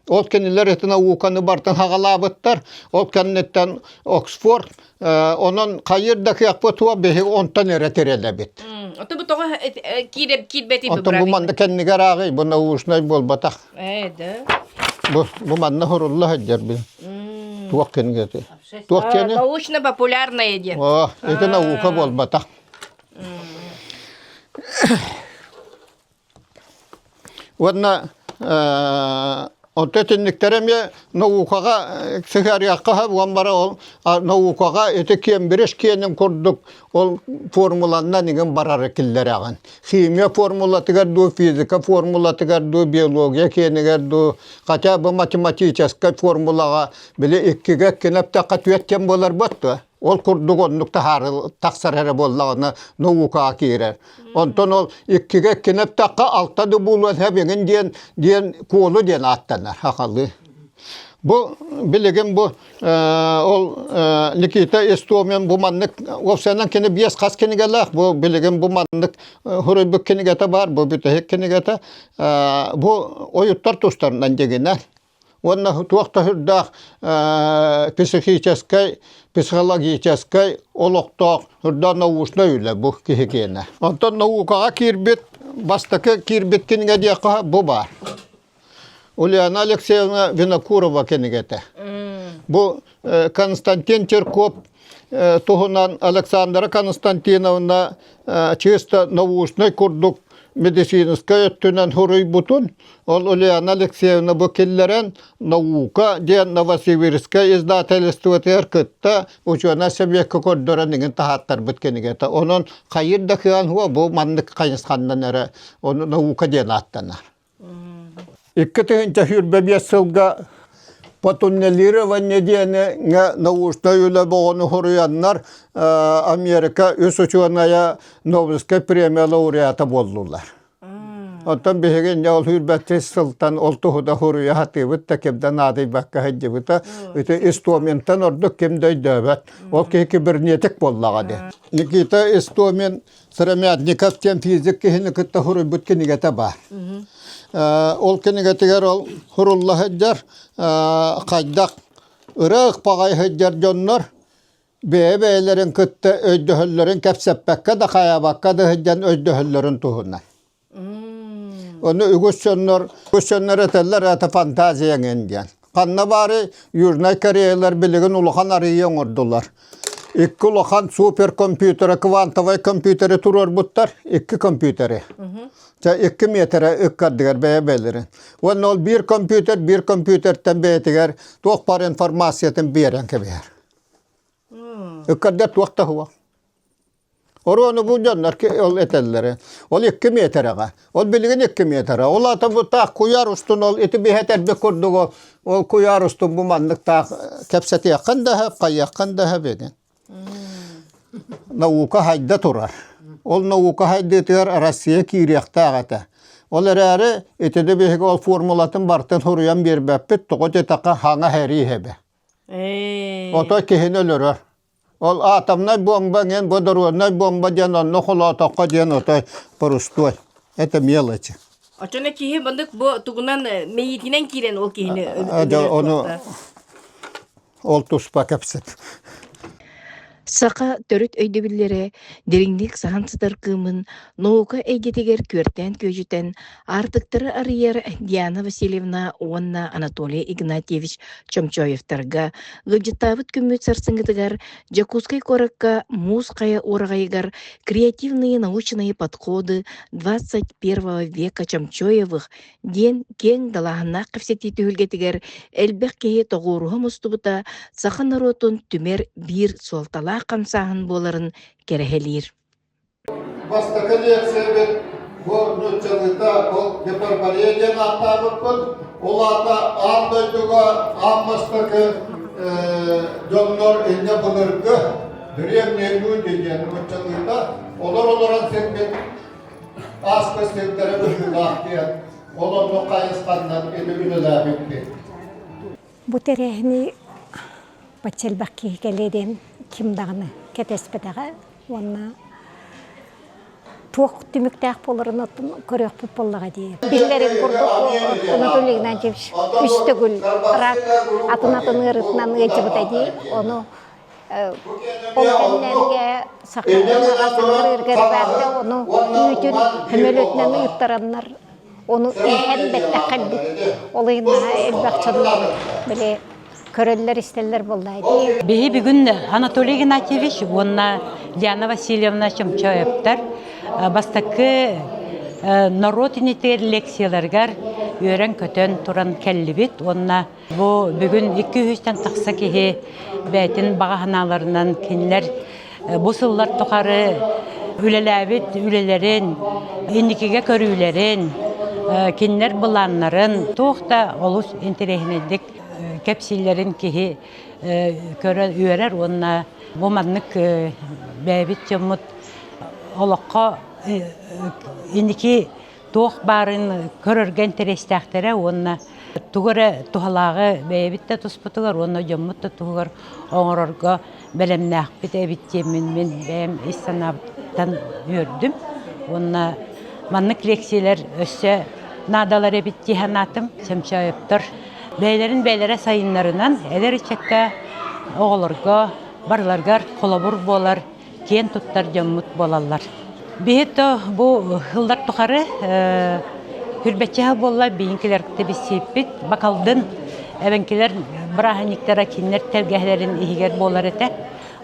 Ол кинилэр ытына ууканы бартан хагалаабыттар. Ол кэнниттэн Оксфорд онон хайыр да кыахпыт туох биһи онтон эрэ тирэлэбит. Ото бу тоҕо киирбэти Онтон бу манна кэннигэ арааҕый бу наушнай буолбатах. Ээ да. Бу бу манна хурулла сылдьар би. Туох кинигeti. Туох кини? Научно популярное диэн. О, ити наука буолбатах. Уонна онто итинниктэр эмиэ наукаҕа сыһыарыахха сөп уон бары ол наукаҕа ити кембридж киэнин курдук ол формуланан игин барары киллэрэҕин. Химия формулатыгар дуу, физика формулатыгар дуу, биология киэнигэр дуу, хотя бу математическай формулаҕа били иккигэ иккини эптэххэ түөрт кэм буолар буот дуо? Ол курдук оннук таһаарыл тахсар эрэ буоллаҕына наукаҕа киирэр. Онтон ол иккигэ иккинэптэххэ алта да буолуон хэбиҥин диэн диэн куолу диэн ааттанар хахалы. Бу билигин бу ол Никита Истомин бу маннык уопсайынан кини биэс хас кинигэлээх бу билигин бу маннык хуруйбут кинигэтэ баар бу бүтэһик кинигэтэ бу ойуттар тустарынан дегенә уонна туох да сүрдээх психическэй, психологическай олохтоох сүрдээх научнай үлэ бу киһи киэнэ. Онтон наукаҕа киирбит, бастакы киирбит кинигэ диэххэ бу баар. Ульяна Алексеевна Винокурова кинигэтэ. Бу Константин Черков туһунан Александра Константиновна чисто научнай курдук медицинскай өттүнэн суруйбутун, ол Ульяна Алексеевна бу киллэрэн «Наука» диэн Новосибирское издательствотыгар кытта учуонай сэбиэккэ көрдөрөн иҥин таһааттарбыт кинигэтэ. Онон хайыр да кыан бу маннык хайысханнан эрэ наука диэн ааттанар. Икки тыһыынча сүүрбэ биэс сылга Потуннелирование диэни научнай үлэ бөҕөнү суруйаннар Америка үс учуонайа Нобелевскай премия лауреата буоллулар. Оттон биһиги инньэ ол сүүрбэччис сылтан ол туһута суруйа сатыыбыт да кимдэ наадыйбакка сылдьыбыта. Ити Истоминтан ордук ким да өйдөөбөт. Ол киһи кибернетик буоллаҕа дии. Никита Истомин Сыромятников диэн физик киһини кытта суруйбут кинигэтэ баар. Ол кинигэтигэр ол сурулла сылдьар хайдах ырыах баҕайы сылдьар дьоннор бэйэ-бэйэлэрин кытта өйдөһөллөрүн кэпсэппэккэ да хайаабакка да сылдьан өйдөһөллөрүн туһунан. Ону үгүс дьоннор үгүс дьоннор этэллэр это фантазия эҥин диэн. Ханна баары Южнай Кореялар билигин улахан арыйы оҥордулар. Икки улахан суперкомпьютера, квантовай компьютеры туруорбуттар, икки компьютеры. Чэ, икки миэтэрэ икки ардыгар бэйэ-бэйэлэрин. Уонна ол биир компьютер биир компьютертан бэйэтигэр туох бар информациятын биэрэн кэбиһэр. Икки ардыгар туох да суох. Оруону бу дьоннор ол этэллэрэ. Ол икки метраҕа. Ол билигин икки метра. Ол аата бу таах куйаар устун ол ити биһэтэрбит курдук ол, ол куйаар устун бу маннык таах кэпсэтиэххин да сөп, хайыаххын да сөп ини. Наука хайда турар. Ол наука хайдыытыгар Россия киириэхтээх этэ. Ол эрээри итини биһиги ол формулатын бартын суруйан биэрбэппит, тоҕо диэтэххэ хаҥа һэрии һэбэ. Эй. Ото киһини өлөрөр. Ол атомнай бомба ҥэн бу доруоннай бомба диэн онно холоотоххо диэн отой порустуой. Это мелочи. Очоно киһи бандык бу тугунан мэйиитинэн киирэн ол киһини Эдэ ону ол туспа кэпсэт. Саха төрүт өйдөбүллэрэ дириҥник саһан сытар кыымын наука эйгэтигэр күөртээн күөдьүтэн Аартыктары арыйар Диана Васильевна уонна Анатолий Игнатьевич Чомчоевтарга ыалдьыттаабыт күммүт сарсыҥҥытыгар Дьокуускай куоракка муус хайа уораҕайыгар креативные научные подходы двадцать первого века Чомчоевых диэн киэҥ далааһыннаах кэпсэтии түһүлгэтигэр элбэх киһи тоҕуоруһа мустубута саха норуотун түмэр биир суолталаах хамсааһын буоларын кэрэһэлиир. Бастакы лиэксийэбит бу нууччалыыта ол гепарборея диэн ааттаабыппыт. Ол аата аан дойдуга аан бастакы дьоннор инньэ былыргы древние люди диэн нууччалыыта олор олорон сирбит ааспыт сирдэрэ быһыылаах диэн ол оннук хайысханнан ини үлэлээбиппит. Бу тэрээһини бачча элбэх киһи кэлиэ диэн ким даҕаны кэтэспэтэҕэ уонна туох түмүктээх буоларын көрүөхпүт буоллаҕа дии. Биллэрин курдук Анатолий Игнатьевич үс төгүл рак атын атын ыарытынан ыалдьыбыта дии. Ону Ол кэннэргэ саха омуга кылырыыргар бэрдэ ону үүтүн хөмөлөтүнэн ыыттараннар ону иһэн бэттэххэ альбыт ол ыйыннаһа элбэх дьоннор били көрөллөр-истэллэр буоллаа дии. Биһи бүгүн Анатолий Игнатьевич уонна Лиана Васильевна Чомчоевтар бастакы норуот иниттиэр лекцияларыгар үөрэн-көтөн туран кэллибит уонна Бу бүгүн икки-үһүстэн тахса киһи бэйэтин баҕа санааларынан кинилэр бу сыллар тухары үлэлээбит үлэлэрин, инникигэ көрүүлэрин, кинилэр былааннарын туох да олус интэриэһинэйдик кэпсииллэрин киһи үөрэр уонна бу маннык бэйэбит дьоммут олоххо инники туох баарын көрөргө интэриэстээхтэрэ уонна тугу эрэ туһалааҕы бэйэбит да туспутугар уонна дьоммут да туһугар оҥорорго бэлэмнээхпит эбит диэммин мин бэйэм ис санаабыттан үөрдүм уонна маннык лиэксийэлэр өссө наадалар эбит дии санаатым чөмчөөйөптөр бэйэлэрин бэйэлэрэ сайыннарынан эдэр ыччакка оҕолорго барыларыгар холобур буолар киэн туттар дьоммут буолаллар. Биһи бу сыллар тухары хүрбэччэһэ буолла биһиҥкилэр тибиссиппит бакалдын эвенкилер бырааһынньыктара кинилэр тэлгэһэлэрин иһигэр буолар этэ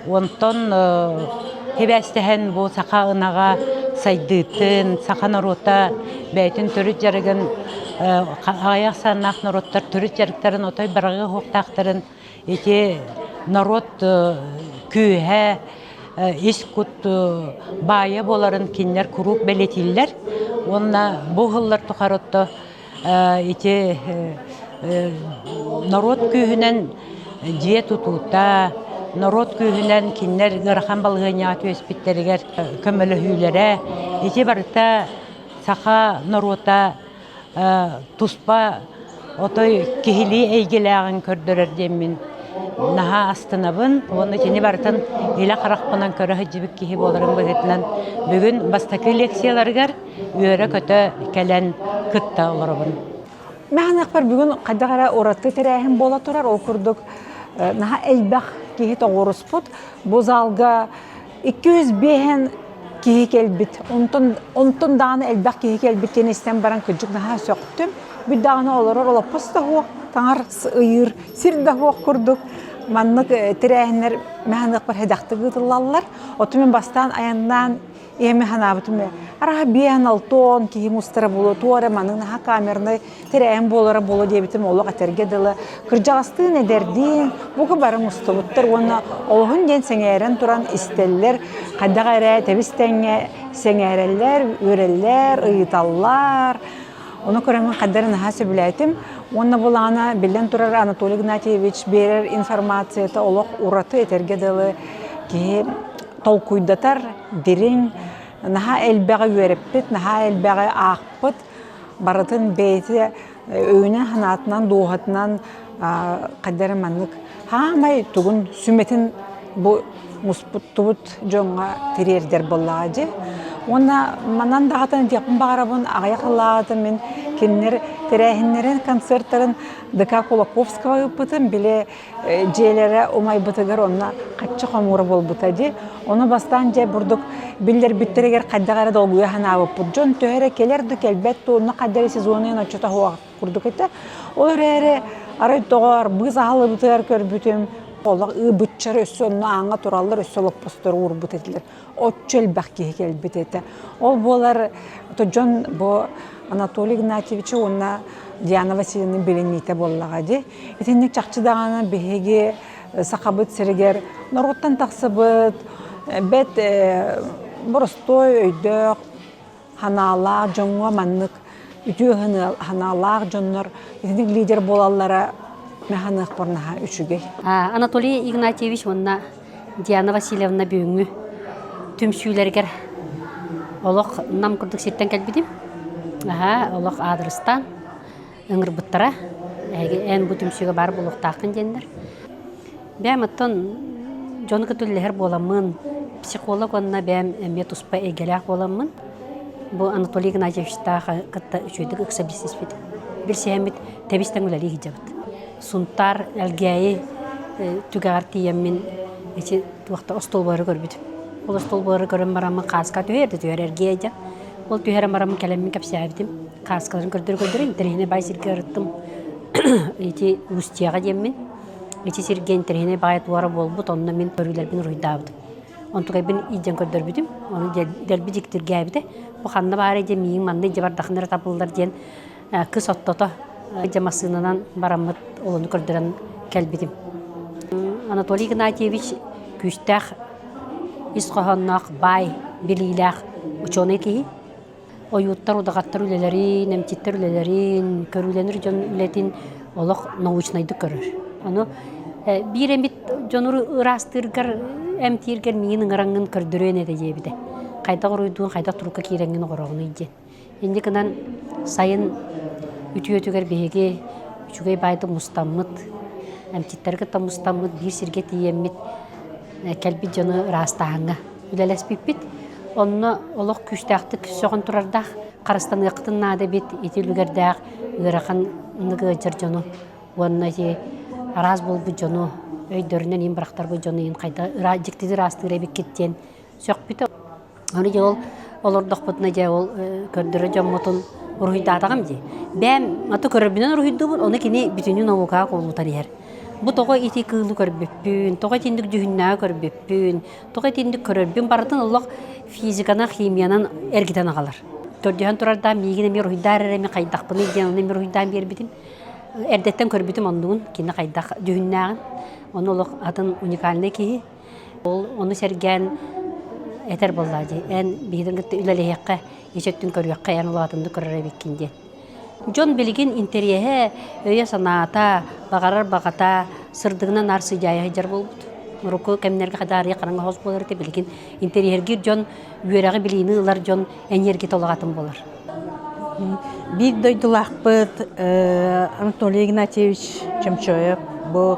онтон хибээстэһэн бу саха ынаҕа сайдыытын саха норуота бэйэтин төрүт дьарыгын аҕай ахсааннаах норуоттар төрүт дьарыктарын отой барҕы уһуктаахтарын Ити норуот күүһэ ис кут баайа буоларын кинилэр куруук бэлэтииллэр уонна бу сыллар тухары отто ити норуот күүһүнэн дьиэ тутуута, норуот күүһүнэн кинилэр ыарахан балаһыанньаҕа түөспүттэригэр көмөлөһүүлэрэ, ити барыта саха норуота туспа отой киһилии эйгэлээҕин көрдөрөр диэммин наһаа астынабын уонна кини барытын илэ харахпынан көрө сылдьыбыт киһи буоларым быһыытынан бүгүн бастакы лекцияларыгар үөрэ-көтө кэлэн кытта олоробун мээнэхпэр бүгүн хайдах эрэ ураты тэрээһин буола турар ол курдук наһаа элбэх киһи тоҕуоруспут бу залга Икки жүз биэһэн киһи кэлбит, онтон, онтон даҕаны элбэх киһи кэлбит диэн истэн баран кырдьык наһаа сөхтүм. Бүт даҕаны олорор олоппос да суох, таҥар ыйыыр сир да суох курдук. Маннык тэрээһиннэр мэханыахпар хэдэхтик ыытыллаллар. Оту мин бастаан айаннаан ийэми санаабытым. Араха биэһэн алтон киһи мустара булу туора маныг наһаа камернай Тирээн буолара буолуо диэбитим олох этэргэ дылы, кырдьаҕастыын эдэрдиин бука бары мустубуттар уонна олоһун диэн сэҥээрэн туран истэллэр хайдах эрэ тэбис-тэҥҥэ сэҥээрэллэр, үөрэллэр, ыйыталлар. Ону көрөммүн хаддары наһаа сөбүлээтим. Уонна булаана биллэн турар Анатолий Игнатьевич биэрэр информацията олох ураты этэргэ дылы киһи толкуйдатар, дириҥ, наһаа элбэҕи үөрэппит, наһаа элбэҕи аахпыт, Барытын бэйэтэ өйүнэн-санаатынан, дууһатынан хайдары маннык хаамай тугун сүмэтин бу муспуттубут дьоҥҥо тириэрдэр буоллаҕа дии. Уонна манан даҕатан диэхпин баҕарабын аҕыйах ылаатым мин кинилэр тэрээһиннэрин, концертарын ДК Кулаковского ыыппытым, били дьиэлэрэ умайбытыгар онно хаччы хомуура буолбута дии. Ону бастаан дьэ бурдук биллэрбиттэригэр хайдах эрэ долгуйа санаабыппыт. Дьон төһө эрэ кэлэр да кэлбэт да онно хайдах эрэ сезонуйан оччото суох курдук этэ. Ол эрээри арай доҕоор быыс аһыллыбытыгар көрбүтүм олох ы быччар өссө онно ааҥҥа тураллар өссө олоппостору уурбут этилэр. отчу элбэх киһи кэлбит этэ. Ол буолар то дьон бу Анатолий Игнатьевича уонна Диана Васильевна билиниитэ буоллаҕа дии. Итинник чахчы даҕаны биһиги Сахабыт сиригэр норуоттан тахсыбыт бэт боростой өйдөөх санаалаах дьоҥҥо маннык үтүө санаалаах дьоннор итинник лидер буолаллара мэханыахпарнаха үчүгэй. Анатолий Игнатьевич уонна Диана Васильевна бүгүҥҥү түмсүүлэригэр олох Нам курдук сиртэн кэлбитим. Аһаа, олох аадырыстаан. ыҥырбыттара эһиги эн бу түмсүүгэ баар буолуохтааххын диэннэр бээм оттон дьону кытта үлэлэһэр буоламмын психолог уонна бээм эмиэ туспа эйгэлээх буоламмын бу анатолий игнатьевичтаах кытта үчүгэйдик ыкса бизнеспит билсиһэммит тэбистэн үлэлии сылдьабыт сунтаар элгээйи түгэҕэр тиийэммин ити туох да остуолбары көрбүт ол остуолбары көрөн бараммын хааска түһэр да түһэр эргиэ дьэ ол түһэрэн бараммын кэлэммин кэпсээбитим Хааскаларын көрдөрө-көрдөрө интэриэһинэй баай сиргэ ырыттым. Ити Устьеҕа диэммин. Ити сиргэ интэриэһинэй баай туора буолбут, онно мин көрүүлэрбин уруйдаабытым. Онтукайбын илдьэн көрдөрбүтүм. Ону дэлби дьиктиргээбитэ. Бу ханна баарай диэн миигин манна илдьэ бардаххына эрэ табыллар диэн кыс оттото дьэ массыынанан бараммыт олону көрдөрөн кэлбитим. Анатолий Игнатьевич күүстээх, ис хоһоонноох, баай, билиилээх учуонай киһи. ойууттар удаҕаттар үлэлэрин, эмчиттэр үлэлэрин, көрүүлэнэр дьон үлэтин олох научнайдык көрөр. Аны биир эмит дьонур ыраастыыргар, эмтииргэр миин ыҥараҥҥын көрдөрүөн этэ диэбитэ. Хайдах уруйдуун, хайдах турукка киирэҥҥин ороҕунуй диэн. Инди гынан сайын үтүөтүгэр биһиги үчүгэй баайда мустаммыт, эмчиттэргэ да мустаммыт, биир сиргэ тиийэммит кэлбит дьону ыраастааһыҥҥа үлэлэспиппит. Онно олох күүстээхтик сөҕөн турардаах харыстаныаххытын наада эбит ити үлүгэрдээх ыарахан ыалдьар дьону уонна араас буолбут дьону өйдөрүнэн иин бырахтарбыт дьону иин хайда дьиктитик ыраастыыр эбиккит диэн сөхпүтэ. Аны дьэ ол олордохпутуна дьэ ол көрдөрө дьоммутун уруһуйдаатаҕым дии. Бэм аты көрөрбүнэн уруһуйдуубун, ону кини бүтүнү наукаҕа кубулутан иһэр. Бу тоҕо ити кыылы көрбүппүн, тоҕо итинник дьүһүннээҕи көрбүппүн, тоҕо итинник көрөрбүн барытын олох физиканан, химиянан эргитэн аҕалар. Төрдүһэн турардаан миигин эмиэ уруһуйдаар эрэ эми хайдахпыный диэн ону эмиэ уруһуйдаан биэрбитим. Эрдэттэн көрбүтүм оннугун, кини хайдах дьүһүннээҕин. Ону олох атын уникальнай киһи Ол ону сэргээн этэр буоллаа дии, эн биһигин кытта үлэлэһиэххэ, ичэттин көрүөххэ, эн улаатынны көрөр эбиккин диэн. Дьон билигин интэриэһэ, өйө-санаата, баҕарар баҕата сырдыгынан арсыдьаайа сылдьар буолбут. Урукку кэмнэргэ хадаарыйа хараҥа хос буолар этэ билигин интэриэһиргиир дьон, үөрэҕи-билиини ылар дьон эньиэргитэ улаҕатын буолар. Биир дойдулаахпыт Анатолий Игнатьевич Чомчоев бу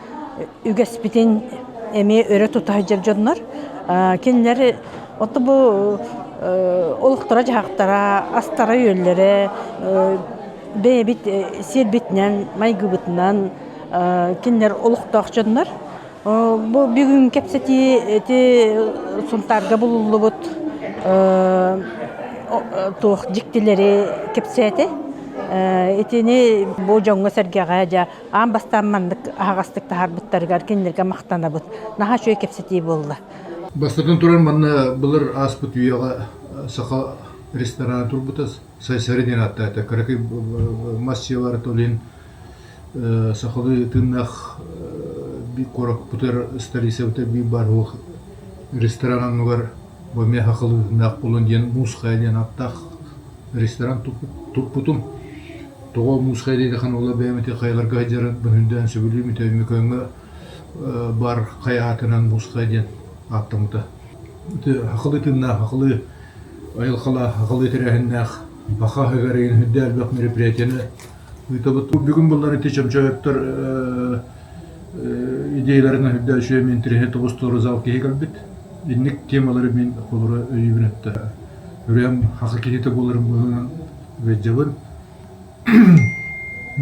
үгэспитин эмиэ өрө тута сылдьар дьоннор кинилэри отто бу олохторо-дьаһахтара, астара-үөллэрэ бэйэбит сиэрбитинэн, майгыбытынан кинилэр олохтоох дьоннор. Бу бүгүн кэпсэтии ити Сунтаарга булуллубут туох дьиктилэри кэпсээтэ. Итини бу дьоҥҥо-сэргэҕэ аан бастаан маннык аһаҕастык таһаарбыттарыгар кинилэргэ махтанабыт. Наһаа үчүгэй кэпсэтии буолла. Бастатан турар, манна былыр ааспыт үйэҕэ саха ресторана турбута Сайсарин ааттаата. Каракай массыйалар толин сахалыы тыыннаах би куораппытар столицабыта би бар ресторан аннугар Бу эмиэ Хахыл Үһүннээх Кулун диэн муусхайа диэн ааттаах ресторан туппутум. Тоҕо муусхайа диэки ханула бэйэм ити хайаларга сылдьарын быһыындаан сөбүлүүм ити Өймөкөөҥҥө баар хайа аатынан муусхайа диэн ааттаммыта. Ити Хахылы тыыннаах, Хахылы айылҕалаах, Хахылы тэрээһиннээх, Баха Гагарин үрдээл элбэх мероприятиены Ыытабыт. Бу бүгүн буллар ити чөмчөөттөр идеяларын өһүрдэ үчүгэй мин тириһи тобустулары зал киһи көрбүт. Инник темалары мин холоро өйүүбүн өттө үрүөм хака киһитэ буларым быһынан бэджабын.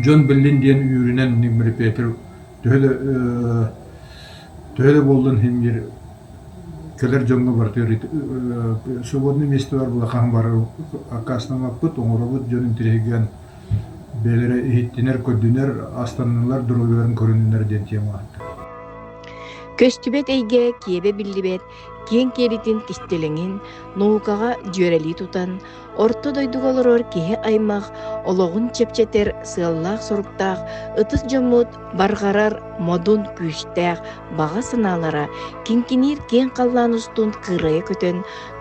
Джон Беллин диэн үүрүнэн мирипиэтер төһө да төһө да боллун химир кэлэр дьоҥҥо бартыыр свободный месте бар былахан бар аккаастамаппыт оҥоробут дьон интеллигиан бэйэлэрэ иһиттинэр-көрдөнөр, астаннылар доруобуйаларын көрүннүлэр диэн киэм ааста Көстүбэт эйгэ киэбэ биллибэт киэҥ киэлитин кистэлэҥин наукаҕа дьүөрэлии тутан орто дойдуга олорор киһи аймах олоҕун чэпчэтэр сыаллаах-соруктаах ытыс дьоммут барҕарар модун күүстээх баҕа санаалара кинкиниир киэҥ халлаан устун кыырайа көтөн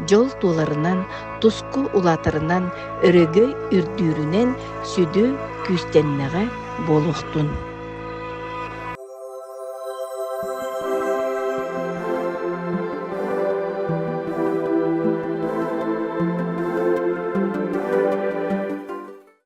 дьол туоларынан, туску улаатарынан, өрөгөй үрдүүрүнэн сүдү күүстэннэҕэ буолуохтун.